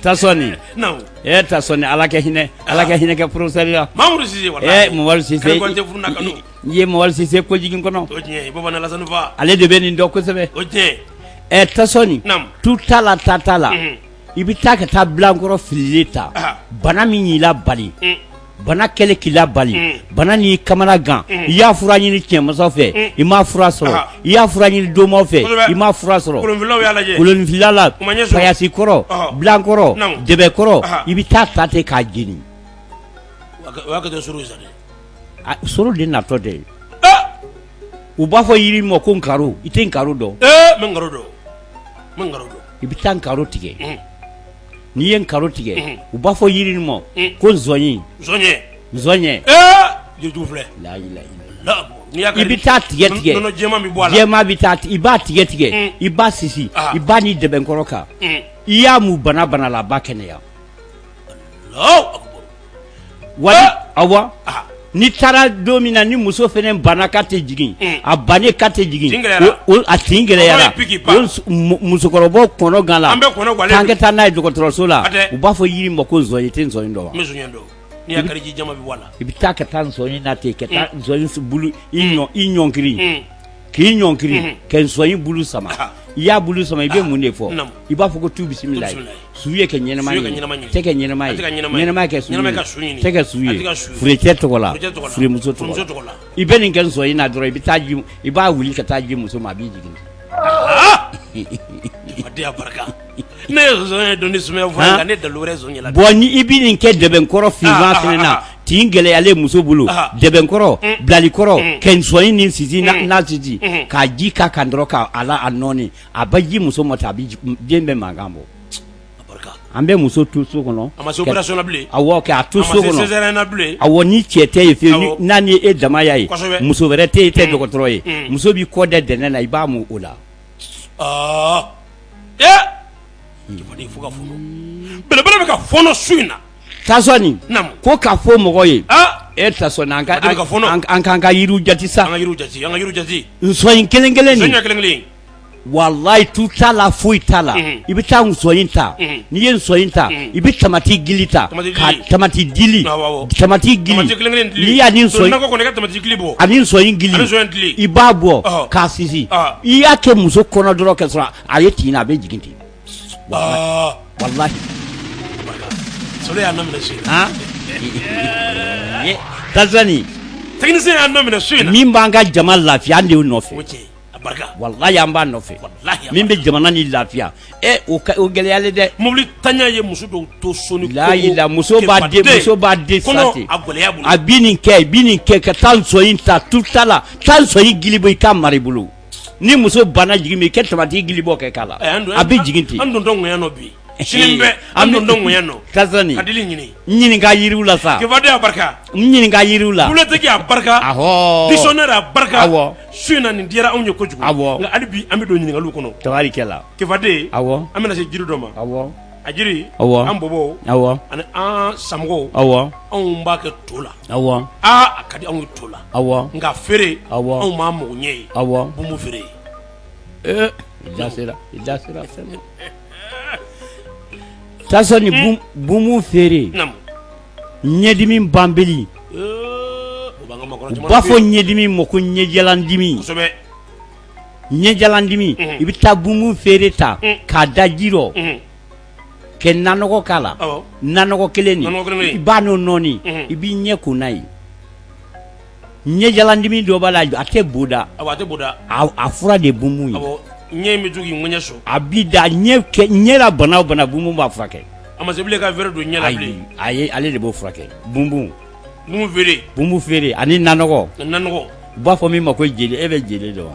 tasɔni ee tasɔni ala ka hinɛ ala ka hinɛ kɛ porofesɛri la walayi i ye Mamadu Sise ko jigin kɔnɔ o tiɲɛ Baba na Lasanu fa ale de bɛ nin dɔn kosɛbɛ ɛ tasɔni naamu tu t'a la ta t'a la i bɛ taa ka taa bilankɔrɔ fili ta bana min y'i la bali bana kɛlen k'i la bali, un, bana n'i kamana gan, un, i y'a fura ɲini cɛnmasaw fɛ, un, i ma fura sɔrɔ, ahan, i y'a fura ɲini domaw fɛ, kosɛbɛ, i ma fura sɔrɔ, kolonfililaw y'a lajɛ, kolonfilila la, u ma ɲɛ sɔrɔ, payasi kɔrɔ, ɔhɔ, blan kɔrɔ, naamu, dɛbɛn kɔrɔ, ahan, i bɛ taa ta ten k'a jeni, o y'a kɛtɔ soro ye sa dɛ, a soro de natɔ tɛ, e, u b'a fɔ yiri min ma ko nkaro, i tɛ nkaro dɔn, ee, n bɛ nkaro dɔn, n bɛ nkaro dɔn, i bɛ taa nkaro tigɛ, unhun n'i ye nkaro tigɛ u b'a fɔ yiri ma ko nzɔɲɛ i bɛ taa tigɛ tigɛ i b'a tigɛ tigɛ i b'a sisi i b'a ni dɛbɛnkɔrɔ kan i y'a mu bana bana la a b'a kɛnɛya wali awɔ n'i taara don min na ni muso fɛnɛ banna k'a tɛ jigin a bannen k'a tɛ jigin a tin gɛlɛyara musokɔrɔbaw kɔnɔ gan la an ka taa n'a ye dɔgɔtɔrɔso la u b'a fɔ yiri ma ko nsɔnyi i tɛ nsɔnyi dɔn wa i bɛ taa ka taa nsɔnyi na ten ka taa nsɔnyi bulu i ɲɔnkiri k'i ɲɔnkiri mhm. ka nsɔnyi bulu sama ah. i y'a bulu sama i bɛ ah. mun de fɔ i b'a fɔ ko tu bisimilayi su ye kɛ ɲɛnama ye tɛ kɛ ɲɛnama ye ɲɛnama kɛ su ye tɛ kɛ su ye furecɛ tɔgɔ la furemuso tɔgɔ la i bɛ nin kɛ nsɔnyi na dɔrɔn i bɛ taa ji i b'a wuli ka taa ji muso ma a bi jigin. Ah! ne ye nsɔnyi dɔn ni sumaya fɔ nka ne dalu wɛrɛ nsɔnyi la bɔn ni i bɛ nin kɛ dɛbɛnkɔrɔ finman fɛnɛ na tin gɛlɛyalen muso bolo dɛbɛnkɔrɔ bilalikɔrɔ kɛ nsɔnyi ni sisi n'a sisi k'a ji k'a kan dɔrɔn k'a ala a nɔɔni a bɛ ji muso ma ten a bɛ den bɛ mankan bɔ an bɛ muso to so kɔnɔ a ma se opération na bilen awɔ k'a to so kɔnɔ a ma se césarienne na bilen awɔ ni cɛ tɛ yen fiyewu n'a ni e dama y'a ye muso wɛrɛ tɛ yen i tɛ dɔgɔtɔrɔ ye muso b'i kɔ da dɛnɛn na i b'a mun o la aa ee cɛfaden fo ka fɔnɔ belebele bɛ ka fɔnɔ su in na Tasɔni naamu ko ka fɔ mɔgɔ ye aa e Tasɔni an ka Cɛfaden bɛ ka fɔnɔ an an k'an ka yiriw jate sa an ka yiriw jate an ka yiriw jate nsɔnyin kelen kelen nsɔnyin kelen kelen walayi tu t'a la foyi t'a la Mhm. i bɛ taa nsɔnyin ta Mhm. n'i ye nsɔnyin ta I bɛ tamati gili ta tamati dili tamati gili i b'a bɔ k'a sisi i y'a kɛ muso kɔnɔ dɔrɔn k'a sɔrɔ a ye tin na a bɛ jigin ten min b'an ka jama lafiya an de y'o nɔfɛ an b'a nɔfɛ min bɛ jamana ni lafiya o gɛlɛyalen dɛ mobilintanya ye muso dɔw to so la muso b'a a nin kɛ nin kɛ ka taa nsɔnyin ta tu t'a la taa nsɔnyin gili bɔ i k'a mara i bolo ni muso banna jigin min i kɛ tamati gili bɔ kɛ k'a la a bɛ jigin ten an ɲininka yiriw la sa ɲininka yiriw la su in na nin diyara anw ye kojugu awɔ nka hali bi an bɛ don ɲininkaliw kɔnɔ tabarikala kefaden awɔ an bɛna se jiri dɔ ma awa a jiri awa an bɔbɔw awa ani an samɔgɔw awa anw b'a kɛ to la awa aa a ka di anw ye to la awa nka feere awa anw m'a mago ɲɛ ye awa bumu feere ye ee i da sera i da sera fɛn ma Tasɔni bum- bumu feere namu ɲɛdimi banbali u b'a fɔ ɲɛdimi ma ko ɲɛjalandimi ɲɛjalandimi i bɛ taa bunbun feere ta k'a da ji rɔ kɛ nanɔgɔ k'a la nanɔgɔ kelen nin i b'a n'o nɔɔni i b'i ɲɛ ko n'a ye ɲɛjalandimi dɔ b'a la a tɛ boda a tɛ boda a fura de bunbun ye ɲɛ bɛ to k'i ŋɛɲɛ sɔrɔ a bɛ da ɲɛ la bana o bana bunbun b'a furakɛ a ma se bilen ka verre don ɲɛ la bilen ayi ale de b'o furakɛ bunbun bunbun feere bunbun feere ani nanɔgɔ nanɔgɔ u b'a fɔ min ma ko jele e bɛ jele dɔn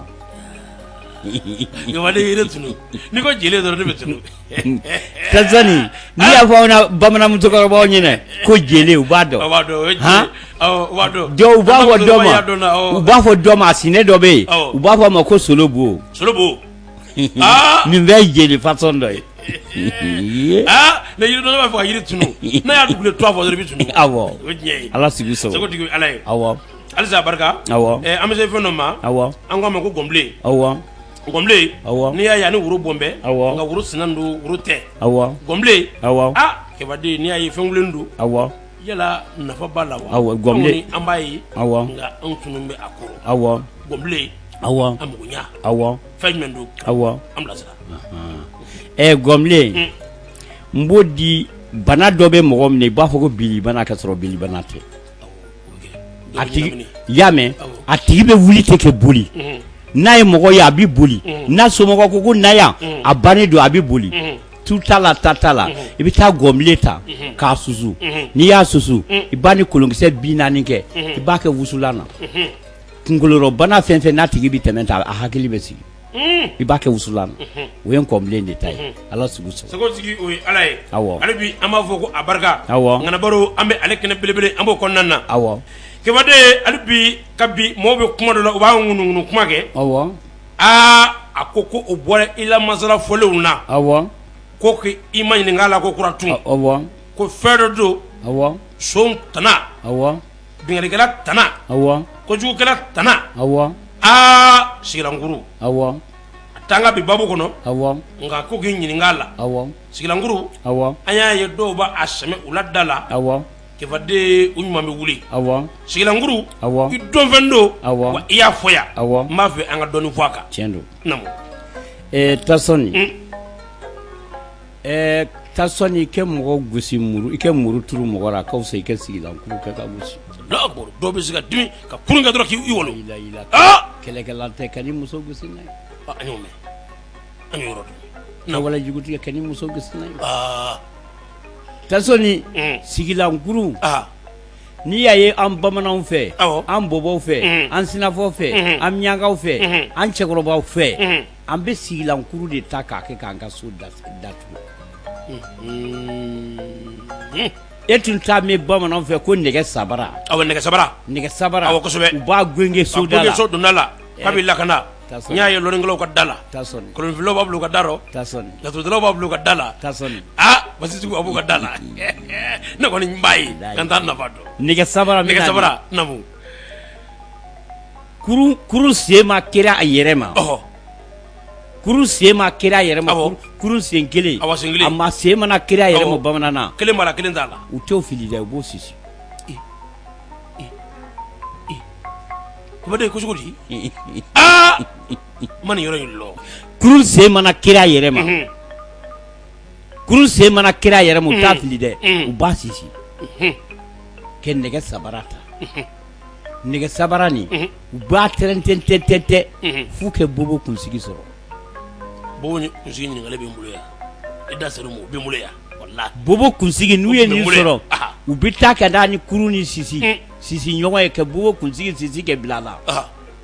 wa ne yɛrɛ tunu n'i ko jele dɔrɔn ne bɛ tunu Tanzanie n'i y'a fɔ aw na bamanan musokɔrɔbaw ɲɛna ko jele u b'a dɔn, u b'a dɔn, o ye jele ye, han, awɔ, u b'a dɔn, donc u b'a fɔ dɔ ma, u b'a fɔ dɔ ma a sinɛ dɔ bɛ yen, awɔ, u b'a fɔ a ma ko solobo, solobo, aa, nin bɛɛ ye jele fasɔn dɔ ye, ee, aa, mais yiri dɔnna b'a fɔ ka yiri tunu n'a y'a dugulen tɔgɔ fɔ dɔrɔn i bɛ tunu, awɔ, o ye tiɲɛ ye, Ala sago i sago, sagotigi Ala ye, awɔ, halisa barika, awɔ, ɛ an bɛ se fɛn dɔ ma, awɔ, an k'a ma ko gɔnbilen, awɔ. Gɔnbilen, awɔ, n'i y'a ye a ni woro bɔn bɛ, awɔ, nka woro sinan don woro tɛ, awɔ, gɔnbilen, awɔ, aa kɛbaden n'i y'a ye fɛn wililen don, awɔ, yala nafa b'a la wa, awɔ, gɔnbilen, an b'a ye, awɔ, nka anw tunu bɛ a kɔrɔ, awɔ, gɔnbilen, awɔ, a magoɲa, awɔ, fɛn jumɛn don, awɔ, an bilasira, anhan, ɛ gɔnbilen, n b'o di bana dɔ bɛ mɔgɔ minɛ i b'a fɔ ko bilibana kasɔrɔ bilibana tɛ a tigi y'a mɛn a tigi bɛ wuli tɛ kɛ boli n'a ye mɔgɔ ye a bɛ boli n'a somɔgɔ ko ko na yan a bannen don a bɛ boli tu ta la ta ta la i bɛ taa gɔnbilen ta k'a susu n'i y'a susu i b'a ni kolonkisɛ bi naani kɛ i b'a kɛ wusulan na kunkolorɔbana fɛn fɛn n'a tigi bɛ tɛmɛ ta a hakili bɛ sigi i b'a kɛ wusulan na o ye gɔnbilen de ta ye ala sago i sago sagotigi o ye ala ye awɔ ale bi an b'a fɔ ko a barika awɔ ŋana baro an bɛ ale kɛnɛ belebele an b'o kɔnɔna na awɔ kɛbaden ale bi ka bi maaw bɛ kuma dɔ la u b'a ŋunuŋunu kuma kɛ awɔ aa a ko ko o bɔra i la masala fɔlen na awɔ ko i maɲininka la kokura tun ko fɛn dɔ don awɔ son tana awɔ Binkannikɛla tana kojugukɛla tana awɔ sigilankuru a t'an ka bi babu kɔnɔ nka ko k'i ɲininka la sigilankuru an y'a ye dɔw b'a sɛmɛ u la da la kɛbaden u ɲuman bɛ wuli sigilankuru i dɔnfɛn don i y'a fɔ yan n b'a fɛ an ka dɔɔnin fɔ a kan tiɲɛ don naamu tari Tasɔni i kɛ mɔgɔ gosi muru i kɛ muru turu mɔgɔ la ka i kɛ sigilankuru kɛ ka gosi dɔw bɛ se ka dimi ka kurun kɛ dɔrɔn k'i walon kɛlɛkɛla tɛ ka muso gosi n'a ye an y'o mɛn an y'o yɔrɔ dɔn walejugutigi kɛ ni muso gosi n'a ye Tasɔni sigilankuru n'i y'a ye an bamananw fɛ an bɔbɔw fɛ an sinafɔw fɛ an miyankaw fɛ an cɛkɔrɔbaw fɛ an bɛ sigilankuru de ta k'a kɛ k'an ka so datugu e tun t'a mɛn bamananw fɛ ko nɛgɛ sabara nɛgɛ sabara nɛgɛ sabara u b'a gengen so donda la k'a bɛ lakana n y'a ye lɔnnikɛlaw ka da la kolonfilaw b'a bila u ka da laturudalaw b'a bila u ka da la aa basitigiw b'a bila u ka da la ne kɔni n b'a ye nka n t'a nafa dɔn nɛgɛ sabara namu kurun sen ma kari a yɛrɛ ma kurun sen ma kari a yɛrɛ ma kurun sen kelen a ma sen mana kari a yɛrɛ ma bamanan na kelen b'a la kelen t'a la u t'o fili dɛ u b'o sisi ye cogo di aa man yɔrɔ in la kurun sen mana kari a yɛrɛ ma kurun sen mana kari a yɛrɛ ma u t'a fili dɛ u b'a sisi kɛ nɛgɛ sabara ta nɛgɛ sabara nin u b'a tɛrɛn tɛn tɛn tɛn tɛn f'u kɛ bobo kunsigi sɔrɔ bobo kunsigi ɲininkali bɛ n bolo yan i da sera o ma o bɛ n bolo yan walahi bobo kunsigi n'u ye nin sɔrɔ u bɛ taa ka taa ni kurun ni sisi sisi ɲɔgɔn ye ka bobo kunsigi sisi kɛ bila a la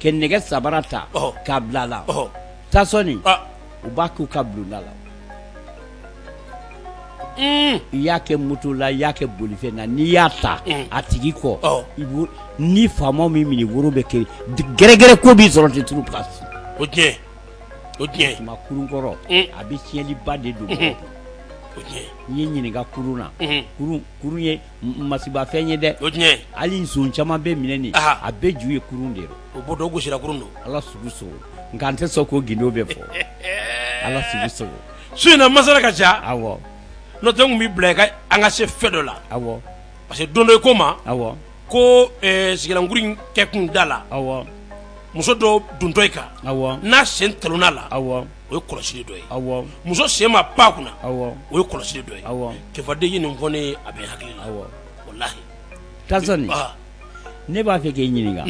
ka nɛgɛ sabara ta k'a bila a la Tasɔni u b'a k'u ka bulonda la I y'a kɛ moto la i y'a kɛ bolifɛn na n'i y'a ta a tigi kɔ ni faama min minɛ woro bɛ kɛ gɛrɛgɛrɛ ko b'i sɔrɔ ten turu o o tuma kurun kɔrɔ a bɛ tiɲɛliba de don o n'i ye n ɲininka kurun na kurun ye masiba fɛn ye dɛ o tiɲɛ hali nson caman bɛ minɛ nin a bɛɛ ju ye kurun de o bɔ dɔw gosira kurun don ala sugu so nka n tɛ sɔn k'o gindo bɛɛ fɔ ala sugu so su in na masala ka ca awɔ n'o tɛ n kun b'i bila i ka an ka se fɛn dɔ la awɔ parce que don dɔ i ko n ma awɔ ko eh, sigilankuru in kɛ kun da la awɔ muso dɔ duntɔ i kan awɔ n'a sen talonna a la awɔ o ye kɔlɔsi dɔ ye muso sen ma ba kunna o ye kɔlɔsi dɔ ye cɛfaden nin fɔɔni a bɛ hakili la o la ta ne b'a fɛ k'i ɲininka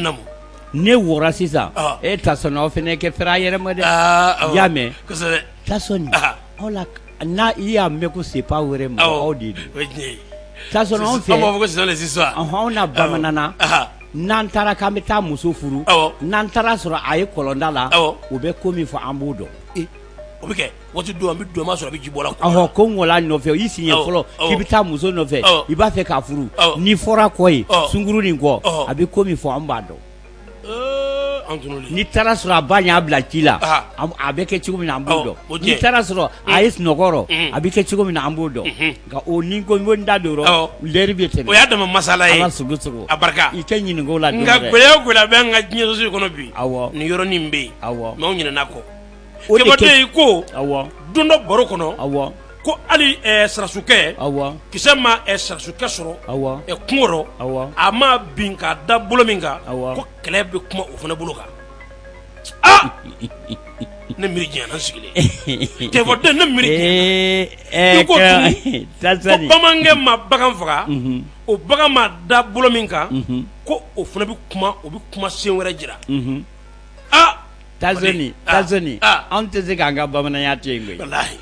ne wɔɔrɔ sisan e ta aw fana kɛ a yɛrɛma dɛ y'a mɛn ta aw la n'a i y'a mɛn ko se' wɛrɛ ma aw de ta anw fɛ sisan anw na bamanan n'an taara k'an bɛ taa muso furu n'an taara sɔrɔ a ye kɔlɔnda la o bɛ ko min fɔ an b'o dɔn o bɛ kɛ waati don an bɛ don sɔrɔ a bɛ ji bɔ la ko n wala nɔfɛ o y'i siɲɛ fɔlɔ k'i bɛ taa muso nɔfɛ i b'a fɛ k'a furu n'i fɔra kɔ ye sunguru nin kɔ a bɛ ko min fɔ an b'a dɔn n'i taara sɔrɔ a ba y'a bila ci la a bɛ kɛ cogo min na an b'o dɔn n'i taara sɔrɔ a ye sunɔgɔ rɔ a bɛ kɛ cogo min na an b'o dɔn Nka o ni ko ko da don o rɔ lɛri bɛ tɛmɛ o y'a dama masala ye a barika i tɛ ɲininka o la nka gɛlɛya o gɛlɛya bɛ an ka diɲɛsosigi kɔnɔ bi awɔ nin yɔrɔnin bɛ yen awɔ mɛ anw ɲinɛna kɔ o ye ko awɔ don dɔ baro kɔnɔ awɔ ko hali sarasukɛ awɔ kisɛ ma sarasukɛ sɔrɔ awɔ kungo rɔ a ma bin k'a da bolo min kan awɔ ko kɛlɛ bɛ kuma o fana bolo kan aa ne miiri janyana n sigilen cɛfɔden ne miiri janyana i ko tun ko bamanankɛ ma bagan faga o bagan ma da bolo min kan ko o fana bɛ kuma o bɛ kuma sen wɛrɛ jira attention attention an tɛ se k'an ka bamananya to yen koyi walahi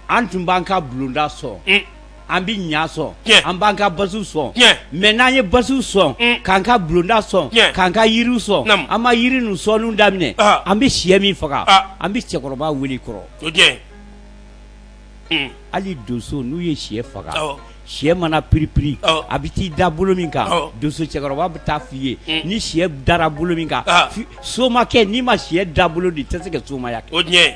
an tun b'an ka bulonda sɔn un an bɛ ɲa sɔn Tiɲɛ. an b'an ka basiw sɔn Tiɲɛ. mɛ n'an ye basiw sɔn Un. k'an ka bulonda sɔn Tiɲɛ. k'an ka yiriw sɔn Naamu. an ma yiri ninnu sɔnniw daminɛ Ah. an bɛ siyɛ min faga Ah. an bɛ cɛkɔrɔba wele kɔrɔ o tiɲɛ un hali donso n'u ye siyɛ faga Awɔ. siyɛ mana piripiri Awɔ. a bɛ t'i da bolo min kan Awɔ. donso cɛkɔrɔba bɛ taa f'i ye Mm. ni siyɛ dara bolo min kan Ah. fi- somakɛ n'i ma siyɛ da bolo dɔn i tɛ se ka somaya kɛ o tiɲɛ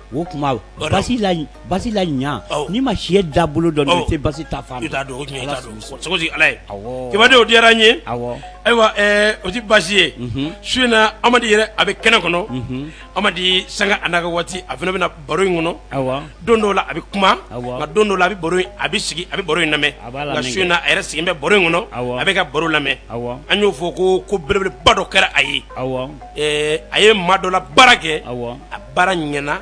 O tuma basi la ɲa n'i ma siyɛ da bolo dɔn basi ala kidenw o diyara n ye ayiwa o tɛ basi ye su in na amadu yɛrɛ a bɛ kɛnɛ kɔnɔ amadu sanga a n'a ka waati a fana bɛ na baro in kɔnɔ don dɔw la a bɛ kuma nka don dɔw la a bɛ baro a bɛ sigi a bɛ baro in lamɛn nka su in na a yɛrɛ sigilen bɛ baro in kɔnɔ a bɛ ka baro lamɛn an y'o fɔ ko ko belebeleba dɔ kɛra a ye a ye maa dɔ la baara kɛ baara ɲɛna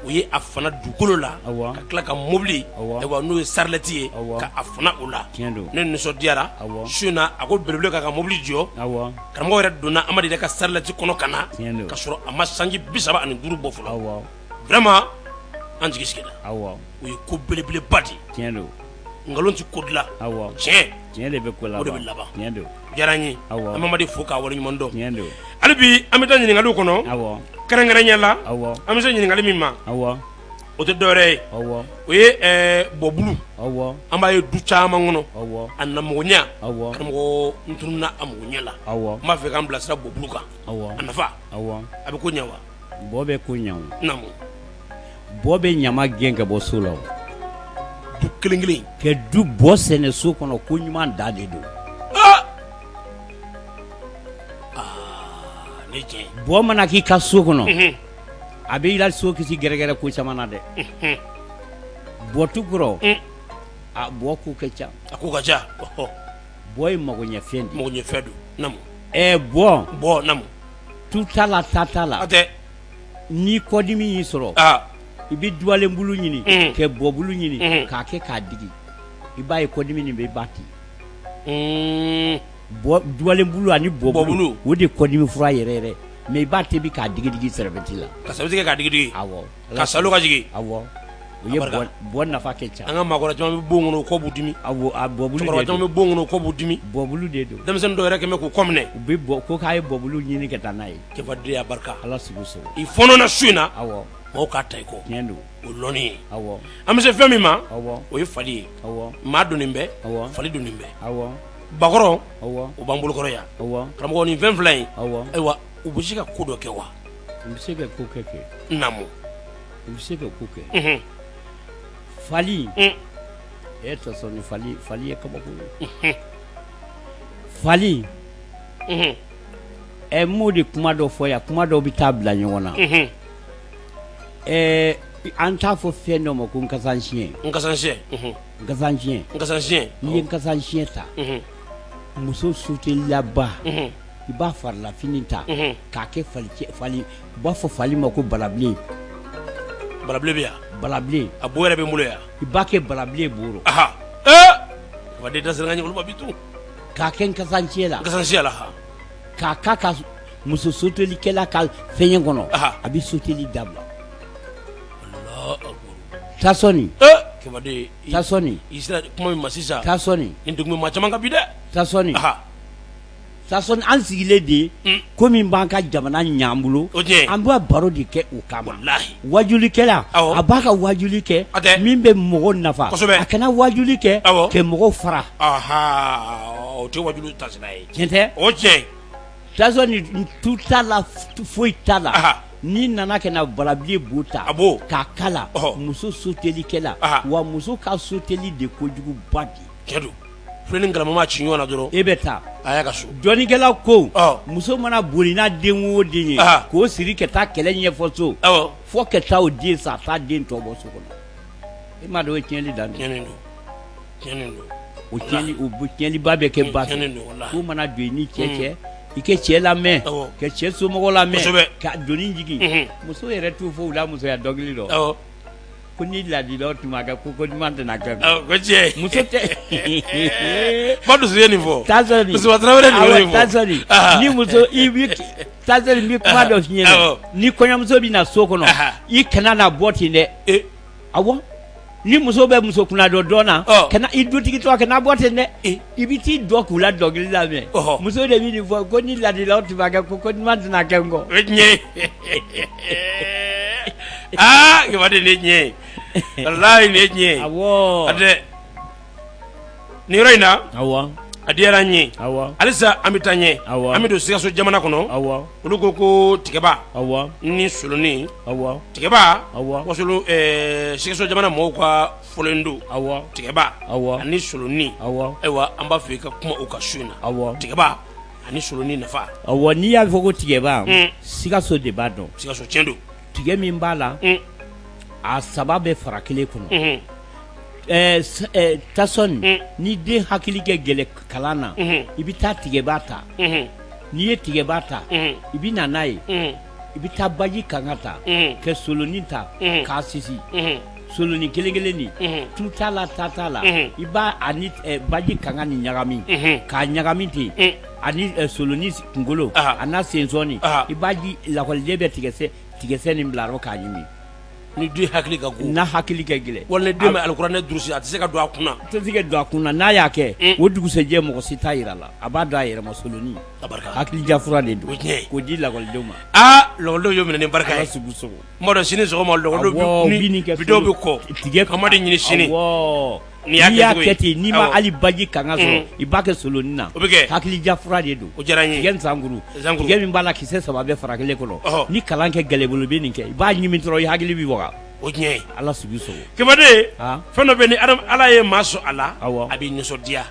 o ye a fana dugukolo la ka tila ka mobili n'o ye sarilɛti ye ka a fana o la ne nisɔndiyara su in na a ko belebele ka ka mobili jɔ karamɔgɔ yɛrɛ donna amadu yɛrɛ ka sarilɛti kɔnɔ ka na ka sɔrɔ a ma sanji bi saba ani duuru bɔ fɔlɔ vraiment an jigi sigira o ye ko belebeleba de nkalon tɛ ko dilan tiɲɛ tiɲɛ de bɛ ko la o de bɛ laban tiɲɛ don diyara n ye an bɛ amadu fo k'a waleɲuman dɔn tiɲɛ don hali bi an bɛ taa ɲininkaliw kɔnɔ kɛrɛnkɛrɛnya la an bɛ se ɲininkali min ma o tɛ dɔwɛrɛ ye o ye bɔbulu an b'a ye du caman kɔnɔ a namɔgɔnya karamɔgɔ n tununna a mɔgɔnya la n b'a fɛ k'an bilasira bɔbulu kan a nafa a bɛ ko ɲɛ wa Bɔ bɛ ko ɲa namu bɔ bɛ ɲama gɛn ka bɔ so la du kelen kelen ka du bɔ sɛnɛ so kɔnɔ ko ɲuman dan de don bɔ mana k'i ka so kɔnɔ a b'i la so kisi gɛrɛgɛrɛ ko caman na dɛ bɔtu kɔrɔ a bɔ ko ka ca a ko ka ca bɔ ye magoɲɛfɛn don magoɲɛfɛn don namu bɔ bɔ tu t'a la ta t'a la, hatɛ, ni kɔdimi y'i sɔrɔ, aa, i bɛ dubalenbulu ɲini, unhun, ka bɔbulu ɲini, unhun, k'a kɛ k'a digi i b'a ye kɔdimi nin bɛ ban ten, un, bɔ dubalenbulu ani bɔbulu o de ye kɔdimi fura yɛrɛ yɛrɛ mais i b'a tobi k'a digi digi serviette la, ka serviette kɛ k'a digi digi, awɔ k'a saalo ka jigin awɔ o ye bɔ nafa ka ca an ka maakɔrɔ caman bɛ bon kɔnɔ kɔ b'u dimi a bɔbulu caman bɛ bon kɔnɔ kɔ b'u dimi bɔbulu de don denmisɛn dɔw yɛrɛ kɛmɛ k'u kɔ minɛ u bɛ bɔ ko k'a ye bɔbulu ɲini ka taa n'a ye cɛfadenyaya barika ala sugu so i fɔnɔna su in na awɔ mɔgɔw k'a ta i kɔ tiɲɛ don o lɔnni ye awɔ an bɛ se fɛn min ma awɔ o ye fali ye awɔ maa doni bɛ awɔ fali doni bɛ awɔ bakɔrɔn awɔ u b'an bolo kɔrɔ yan awɔ karamɔgɔ nin fɛn fila in awɔ ayiwa u bɛ se ka ko dɔ kɛ wa u bɛ se ka ko kɛ kɛ namu u bɛ se ka ko kɛ fali e tasɔni fali fali ye kabako ye fali ɛ mo de kuma dɔ fɔ yan kuma dɔw bɛ taa bila ɲɔgɔn na ɛɛ an t'a fɔ fɛn dɔ ma ko nkasansiyɛn nkasansiyɛn nkasansiyɛn nkasansiyɛn n'i ye nkasansiyɛn ta muso sutelilaba i b'a farilafini ta k'a kɛ fali u b'a fɔ fali ma ko balabilen bara balabilen a bo yɛrɛ bɛ n bolo yan i b'a kɛ balabilen bolo wa da bɛ to k'a kɛ nkasansiyɛn la k'a ka ka muso sotelikɛla ka fɛn kɔnɔ a bɛ soteli dabila tasɔni tasɔni i sera kuma min ma sisan tasɔni nin dugu maa caman ka bi dɛ tasɔni an sigilen de ko min b'an ka jamana ɲ'an bolo an b'a baro de kɛ o kama wajulikɛla a b'a ka wajuli kɛ min bɛ mɔgɔw nafa a kana wajuli kɛ ka mɔgɔw fara o tɛ wajuli taasira ye tiɲɛ tɛ o tiɲɛ tasɔni tu t'a la foyi t'a la n'i nana ka na balabilen bo ta k'a kala muso sutelikɛla wa muso ka suteli de kojuguba di filen ni galama mana ci ɲɔgɔn na dɔrɔn e bɛ taa a y'a ka so dɔnnikɛla ko muso mana boli n'a den o den ye k'o siri ka taa kɛlɛ ɲɛfɔ so fo ka taa o den sa taa den tɔ bɔ so kɔnɔ e m'a dɔn o ye tiɲɛnli dan tiɲɛ don o tiɲɛnliba bɛ kɛ ba fɛ ko mana don i ni cɛ mm. cɛ i kɛ cɛ lamɛn ka cɛ somɔgɔ lamɛn ka doni jigin muso yɛrɛ t'u fɔ u la musoya dɔnkili dɔ Ko ni ladilaw tun b'a kɛ ko ko ɲuman tɛna kɛ muso tɛ ba dusu ye nin fɔ tasɔn tasɔn ni muso i tasɔn n bɛ kuma dɔ f'i ɲɛna ni kɔɲɔmuso bɛ na so kɔnɔ i kana na bɔ ten dɛ awɔ ni muso bɛ muso kunnadɔ dɔn na kana i dutigi to a kana bɔ ten dɛ i bɛ t'i jɔ k'u la dɔnkili lamɛn muso de bɛ nin fɔ ko ni ladilaw tun b'a kɛ ko ko ɲuman tɛna kɛ n kɔ o ye tiɲɛ ye aa kɛmɛden nin ye tiɲɛ ye walahi nin ye tiɲɛ ye awɔ a tɛ nin yɔrɔ in na awɔ a diyara n ye awɔ halisa an bɛ taa ɲɛ awɔ an bɛ don Sikaso jamana kɔnɔ awɔ olu ko ko tigɛba awɔ ni solonin awɔ tigɛba awɔ wasolo ɛɛ Sikaso jamana mɔgɔw ka fɔlen don tigɛba ani solonin ayiwa an b'a fɛ i ka kuma o kan su in na tigɛba ani solonin nafa n'i y'a fɔ ko tigɛba Sikaso de b'a dɔn Sikaso tiɲɛ don tigɛ min b'a la a saba bɛ fara kelen kɔnɔ tasɔn ni den hakili kɛ gɛlɛ kalan na i bɛ taa tigɛba ta n'i ye tigɛba ta i bɛ na n'a ye i bɛ taa baji kanga ta ka solonin ta k'a sisi soloni kelen kelen nin mhm. tu t'a la ta t'a la mhm. i b'a ani eh, baji kanga ni ɲagami mhm. k'a ɲagami ten mm. ani eh, soloni kunkolo a n'a sensɔni i b'a di lakɔliden bɛ tigɛsɛ tigɛsɛ nin bila a rɔ k'a ɲimi ni den hakili ka go n'a hakili ka gɛlɛ wala den bɛ alikuranɛ durusi a tɛ se ka don a kunna a tɛ se ka don a kunna n'a y'a kɛ mm. o dugusɛjɛ mɔgɔ si t'a yira a la a b'a dɔn a yɛrɛ ma soloni hakili diyafura de don k'o di lakɔlidenw ma aa lakɔlidenw y'o minɛ ni barika ye sugu sogo Dɔw sini kɔ ɲini baji i ba kɛ solon na hakili de don b'a la ki saba bɛ fara kelen kɔnɔ ni kalan kɛ gɛlɛn bolo bɛ nin kɛ i b'a ɲimi dɔrɔn i hakili bɛ wa o ala fɛn dɔ bɛ ni ala ye maa sɔn a a bɛ nisɔndiya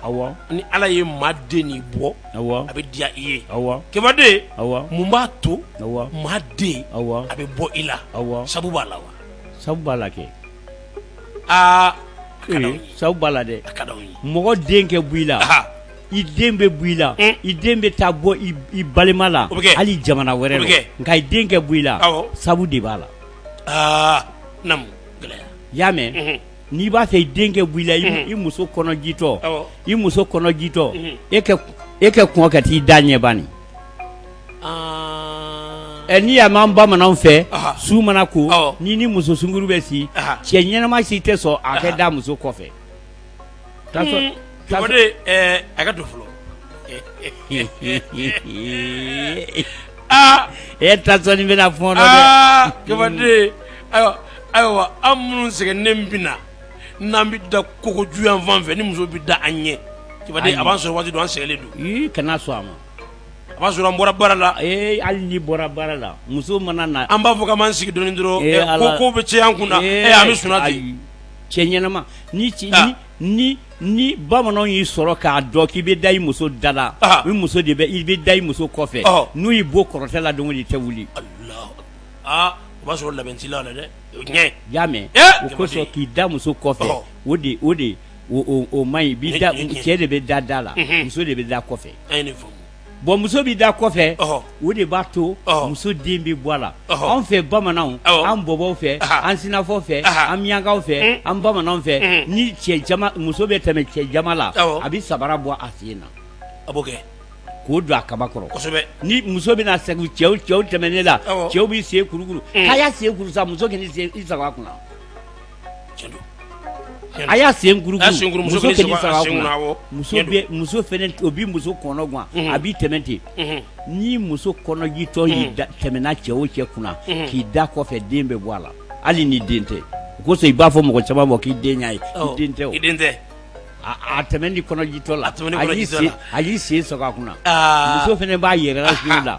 ni ala ye maa den bɔ a bɛ diya i ye kɛmɛden mun b'a to maa den a bɛ bɔ i la sabu b'a la wa sabu b'a la kɛ aa sabu b'a la dɛ a ka d'anw ye mɔgɔ den kɛ bɔ i la i den bɛ bɔ i la i den bɛ taa bɔ i balima la hali jamana wɛrɛ la nka i den kɛ bɔ i la sabu de b'a la naamu gɛlɛya y'a mɛn n'i b'a fɛ i den kɛ bɔ i la i muso kɔnɔjitɔ i muso kɔnɔjitɔ e e kɛ kɔn ka t'i da ɲɛ bani n'i y'a mɛn bamanan fɛ su mana ko ni ni muso sunguru bɛ si cɛ ɲɛnama si tɛ sɔn a kɛ da muso kɔfɛ a ka don fɔlɔ aa e ta sɔɔni bɛna fɔ Kɛfade ayiwa ayiwa an minnu sɛgɛnnen bɛ na n'an bɛ da kogo ju yanfan fɛ ni muso bɛ da an ɲɛ Kɛfade a b'a sɔrɔ waati dɔ an sɛgɛnnen don kana sɔn a ma a b'a sɔrɔ an bɔra baara la ee hali n'i bɔra baara la muso mana na an b'a fɔ k'an b'an sigi dɔɔni dɔrɔn ko ko bɛ cɛ an kun na an bɛ sunna ten cɛ ɲɛnama ni ni ni ni bamananw y'i sɔrɔ k'a dɔn k'i bɛ da i muso da la i muso de bɛ i bɛ da i muso kɔfɛ n'u y'i bon kɔrɔtɛ la don o tɛ wuli aa o b'a sɔrɔ labɛn t'i la dɛ y'a mɛn o kosɔn k'i da muso kɔfɛ o de o de o man ɲi cɛ de bɛ da da la muso de bɛ da kɔfɛ bon muso bɛ da kɔfɛ o de b'a to muso den bɛ bɔ a la anw fɛ bamananw an bɔbɔw fɛ an sinafɔ fɛ an miyankaw fɛ an bamanan fɛ ni cɛ muso bɛ tɛmɛ cɛ jama la a bɛ sabara bɔ a sen na a b'o kɛ k'o don a kaba kɔrɔ kosɛbɛ ni muso bɛna sɛgɛn cɛw tɛmɛnen la cɛw b'i sen kurukuru k'a y'a sen kuru sa muso kan'i sago a kunna a y'a sen muso fɛnɛ o bɛ muso kɔnɔ gan a b'i tɛmɛ ten ni muso kɔnɔjitɔ y'i tɛmɛna cɛ o cɛ kunna k'i da kɔfɛ den bɛ bɔ a la hali n'i den tɛ o kosɔn i b'a fɔ mɔgɔ caman ma k'i den ye i den tɛ o a tɛmɛni kɔnɔjitɔ la a y'i sen sago a kunna muso fɛnɛ b'a yɛrɛ la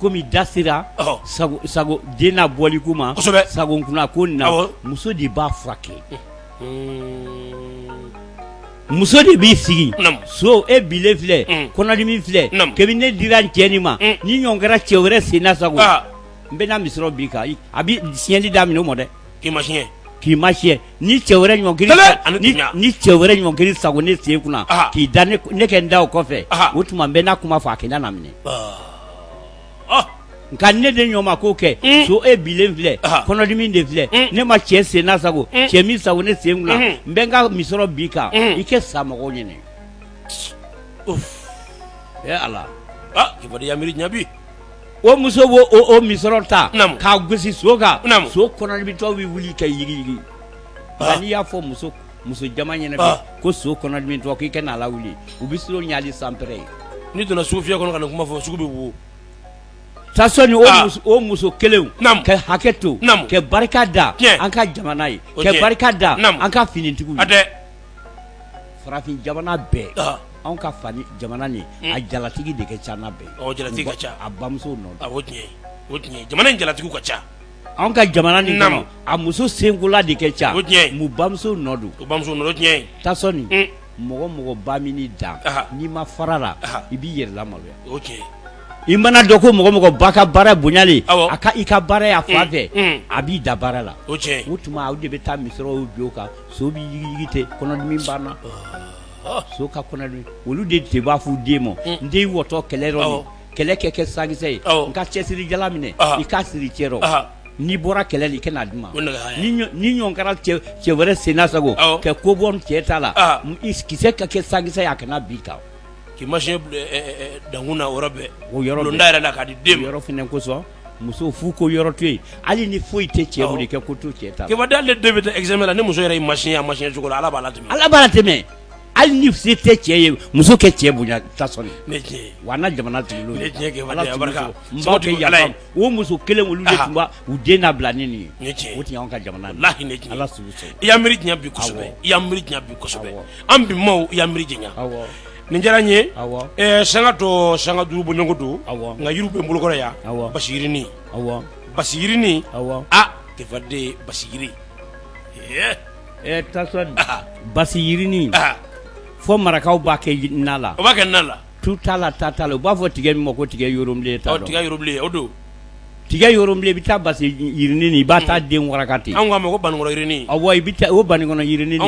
kɔmi da sera sago den n'a bɔli ko ma sago kunna ko nin na muso de b'a furakɛ muso de b'i sigi so e bilen filɛ kɔnɔdimi filɛ kebi ne dira n cɛ nin ma ni ɲɔgɔn kɛra cɛ wɛrɛ sen na sago n bɛna misɔrɔ bi kan a bɛ siɲɛli daminɛ o ma dɛ k'i ma siɲɛ k'i ma siɲɛ ni cɛ wɛrɛ ɲɔngiri ni cɛ wɛrɛ ɲɔngiri sago ne sen kunna Aha. k'i da ne kɛ n da o kɔfɛ Aha. o tuma n bɛ n'a kuma fɔ a kɛ da na minɛ Ah, nka ne de ɲɔgɔn ma k'o kɛ Mm. so e bilen filɛ Aha. kɔnɔdimi de filɛ Mm. ne ma cɛ sen na sago Mm. cɛ min sago ne sen kunna Mhm. n bɛ n ka misɔrɔ bi kan Mm. i kɛ sa mɔgɔw ɲɛnɛ uff. e ala ah, Kɛfade y'a miiri ɲɛ bi. o muso b'o o o misɔrɔ ta Naamu. k'a gosi so kan Naamu. so kɔnɔdimitɔ bɛ wuli ka yigiyigi Ah. nka n'i y'a fɔ muso muso jama ɲɛna bi Ah. ko so kɔnɔdimitɔ k'i kana a lawuli u bɛ siran hali sanpɛrɛ ye n'i donna sugufiyɛ kɔnɔ ka na kuma fɔ sugu bɛ wo tasɔni o Ah. muso o muso kelenw Naamu. ka hakɛ to Naamu. ka barika da Tiɲɛ. an ka jamana ye O tiɲɛ. ka barika da Naamu. an ka finitigiw a ye tɛ farafin jamana bɛɛ Ah. anw ka fa jamana nin a jalatigi de ka ca n'a bɛɛ jalatigi ka ca a bamuso nɔ don jamana in jalatigiw ka ca anw ka jamana ni a muso senkola de ka ca bamuso nɔ don bamuso tasɔni mɔgɔ mɔgɔ ba min da n'i ma fara la i b'i yɛrɛ lamaloya o tiɲɛ i mana dɔn ko mɔgɔ mɔgɔ ba ka baara bonyalen a ka i ka baara y'a fa fɛ a b'i da baara la o tuma aw de bɛ taa misɔrɔw bi o kan so b'i yigiyigi ten kɔnɔdimi banna so ka kɔnɔdimi olu de de b'a f'u den ma n den wɔtɔ kɛlɛ yɔrɔ min kɛlɛ kɛ kɛ sankisɛ ye n ka cɛsiri jala minɛ i k'a siri cɛ rɔ n'i bɔra kɛlɛ la i kana d'u ma ni ɲɔgɔn kɛra cɛ wɛrɛ senna sago kɛ ko bɔ cɛ ta la kisɛ ka kɛ sankisɛ ye a kana bin i kan k'i ma siɲɛ dankun na o yɔrɔ bɛɛ o yɔrɔ bulonda yɛrɛ la k'a di den ma o yɔrɔ fɛnɛ kosɔn muso fu ko yɔrɔ to yen hali ni foyi tɛ cɛ bolo i kɛ ko to cɛ ta Kɛfade ale den bɛ taa examen la ni muso yɛrɛ y'i ma siɲɛ a ma siɲɛ cogo la ala b'a latɛmɛ ala b'a latɛmɛ hali ni se tɛ cɛ ye muso kɛ cɛ bonya tasɔni ne tiɲɛ ye wa an ka jamanatigi ne tiɲɛ Kɛfade a barika muso kɛ yala ye o muso kelen olu de tun b'a u den labila ni nin ye ne tiɲɛ o tun y'an ka jamana ye lahi ne tiɲɛ ala sugu sɔrɔ i y'an miiri janya bi kosɛbɛ i y'an miiri janya bi kosɛbɛ an bi maaw i y'an miiri janya nin diyara n ye awɔ sanga tɔ sanga duuru bɔɲɔgɔnko don nka yiriw bɛ n bolokɔrɔ yan basi yirinin basi yirinin a Kɛfade basi yiri ɛɛ tasɔni basi yirinin fo marakaw b'a kɛ na la o b'a kɛ na la tu t'a la ta t'a la u b'a fɔ tigɛ min ma ko tigɛ yɔrɔlen ta tigɛ yɔrɔlen o don tiga yɔrɔlen i bɛ ta basi yirinin i b'a ta den waraka ten anw ko banikɔnɔ yirinin awɔ i bɛ o banikɔnɔ yirinin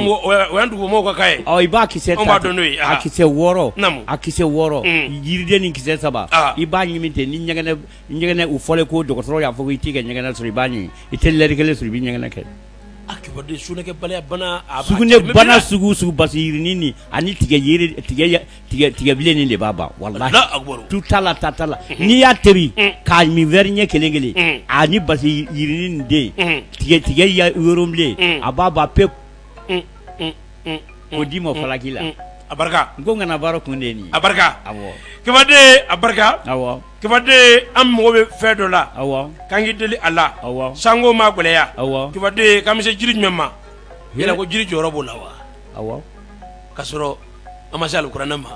dugubaw ka i b'a kisɛ dɔn n' a kisɛ wɔɔrɔ a kisɛ wɔɔrɔ yiriden ni kisɛ saba i b'a ɲimi ten ni ɲɛgɛnɛ u fɔlen ko dɔgɔtɔrɔ y'a fɔ ko i t'i ka ɲɛgɛnɛ sɔrɔ i b'a ɲimi i tɛ lɛri kelen sɔrɔ i b'i ɲɛgɛnɛ kɛ sugunɛ bana sugu sugu basi yirinin ani tigɛ tigɛbilen nin de b'a ban wallahi tu ta la ta ta la n'i y'a tobi k'a min wɛri ɲɛ kelen kelen ani basi yirinin den tigɛ tigɛ yɔrɔlen a b'a ban pewu o d'i ma falaki la a barika n ko kana baara kun de nin a barika awɔ Kɛfade a barika awɔ Kɛfade an mago bɛ fɛn dɔ la awɔ k'an k'i deli a la awɔ sanko ma gɛlɛya awɔ Kɛfade k'an bɛ se jiri jumɛn ma yala ko jiri jɔyɔrɔ b'o la wa awɔ ka sɔrɔ an ma se alikuranɛ ma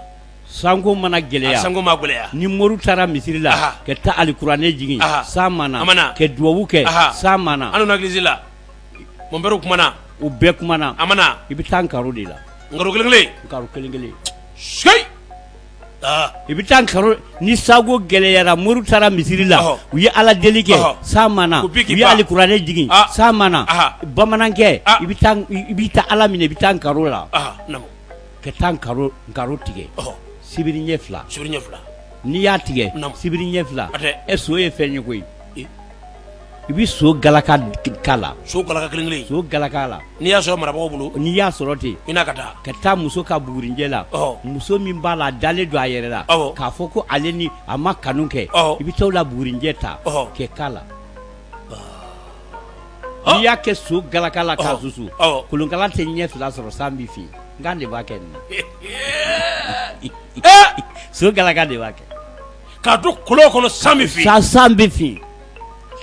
sanko mana gɛlɛya a sanko ma gɛlɛya ni mori taara misiri la Aha. ka taa alikuranɛ jigin Aha. san ma na A ma na. ka duwawu kɛ Aha. san ma na an donna egilizi la mɔnpɛriw kumana u bɛɛ kumana a ma na i bɛ taa nkaro de la nkaro kelen kelen nkaro kelen kelen seyi I bɛ taa nkaro ni sanko gɛlɛyara mori taara misiri la u ye ala deli kɛ san ma na u ye alikuranɛ jigin san ma na bamanankɛ i bɛ taa ala minɛ i bɛ taa nkaro la ka taa nkaro tigɛ sibiri ɲɛ fila n'i y'a tigɛ sibiri ɲɛ fila e so ye fɛn ye koyi I bɛ so galaka k'a la so galaka kelen kelen so galaka la n'i y'a sɔrɔ marabaga bolo n'i y'a sɔrɔ ten i na ka taa ka taa muso ka bugurinjɛ la muso min b'a la dalen don a yɛrɛ la k'a fɔ ko ale ni a ma kanu kɛ i bɛ taa o la bugurinjɛ ta kɛ k'a la n'i y'a kɛ so galaka la k'a susu kolonkala tɛ ɲɛ fila sɔrɔ san bɛ fin nka n' de b'a kɛ nin so galaka de b'a kɛ K'a to kolon kɔnɔ san bɛ fin, san bɛ fin,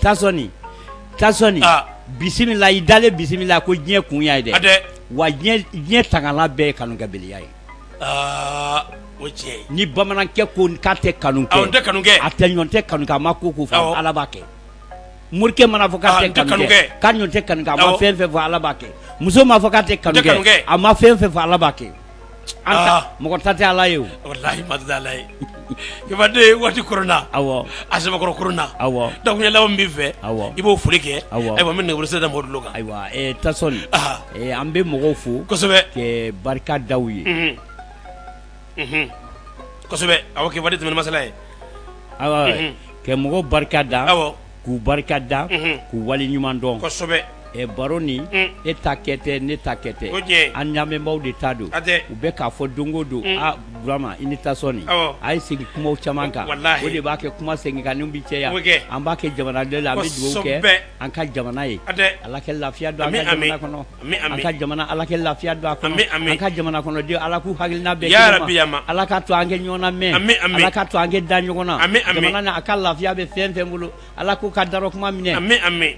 Tasɔni, Tasɔni, aa, bisimila i dalen bisimila ko diɲɛ kun y'a ye dɛ, hatɛ, wa diɲɛ tangalan bɛɛ ye kanukɛbeliya ye, aa o ye tiɲɛ ye, ni bamanankɛ ko k'a tɛ kanu kɛ, awɔ, n tɛ kanu kɛ, a tɛ ɲɔn tɛ kanu kɛ, a ma ko o ko fɔ, awɔ, Ala b'a kɛ, morikɛ mana fɔ k'a tɛ kanu kɛ, k'a ɲɔn tɛ kanu kɛ, awɔ, a ma fɛn o fɛn fɔ Ala b'a kɛ, muso mana fɔ k'a tɛ kanu kɛ, n tɛ kanu kɛ, a ma fɛn o fɛn fɔ Ala b'a kɛ Mɔgɔ ta tɛ ala ye aladen waati kona a samakɔrɔ kona dɔnkili law bɛ fɛ i b'o foli kɛ ayiwa bɛ nɛgɛsi da mori kan ayiwa tasɔli an bɛ mɔgɔw fo barika da ye aw kɛ waati tɛmɛn masala ye ayiwa ka mɔgɔw barika da k'u barika da k'u wale ɲuman dɔn kosɛbɛ baro ni e ta kɛ tɛ ne ta kɛ tɛ an lamɛnbaaw de ta don u bɛ k'a fɔ don o don Burama i ni tasɔni a ye segin kuma caman kan o de b'a kɛ kuma seginkanni bɛ caya an b'a kɛ jamana de la an bɛ dugawu kɛ an ka jamana ye ala kɛ lafiya don an ka jamana kɔnɔ an ka jamana ala kɛ lafiya don a kɔnɔ an ka jamana kɔnɔden ala k'u hakilina bɛn kelen ma ala ka to an kɛ ɲɔgɔn namɛn ala ka to an kɛ da ɲɔgɔn na jamana ni a ka lafiya bɛ fɛn fɛn bolo ala k'u ka darɔ kuma minɛ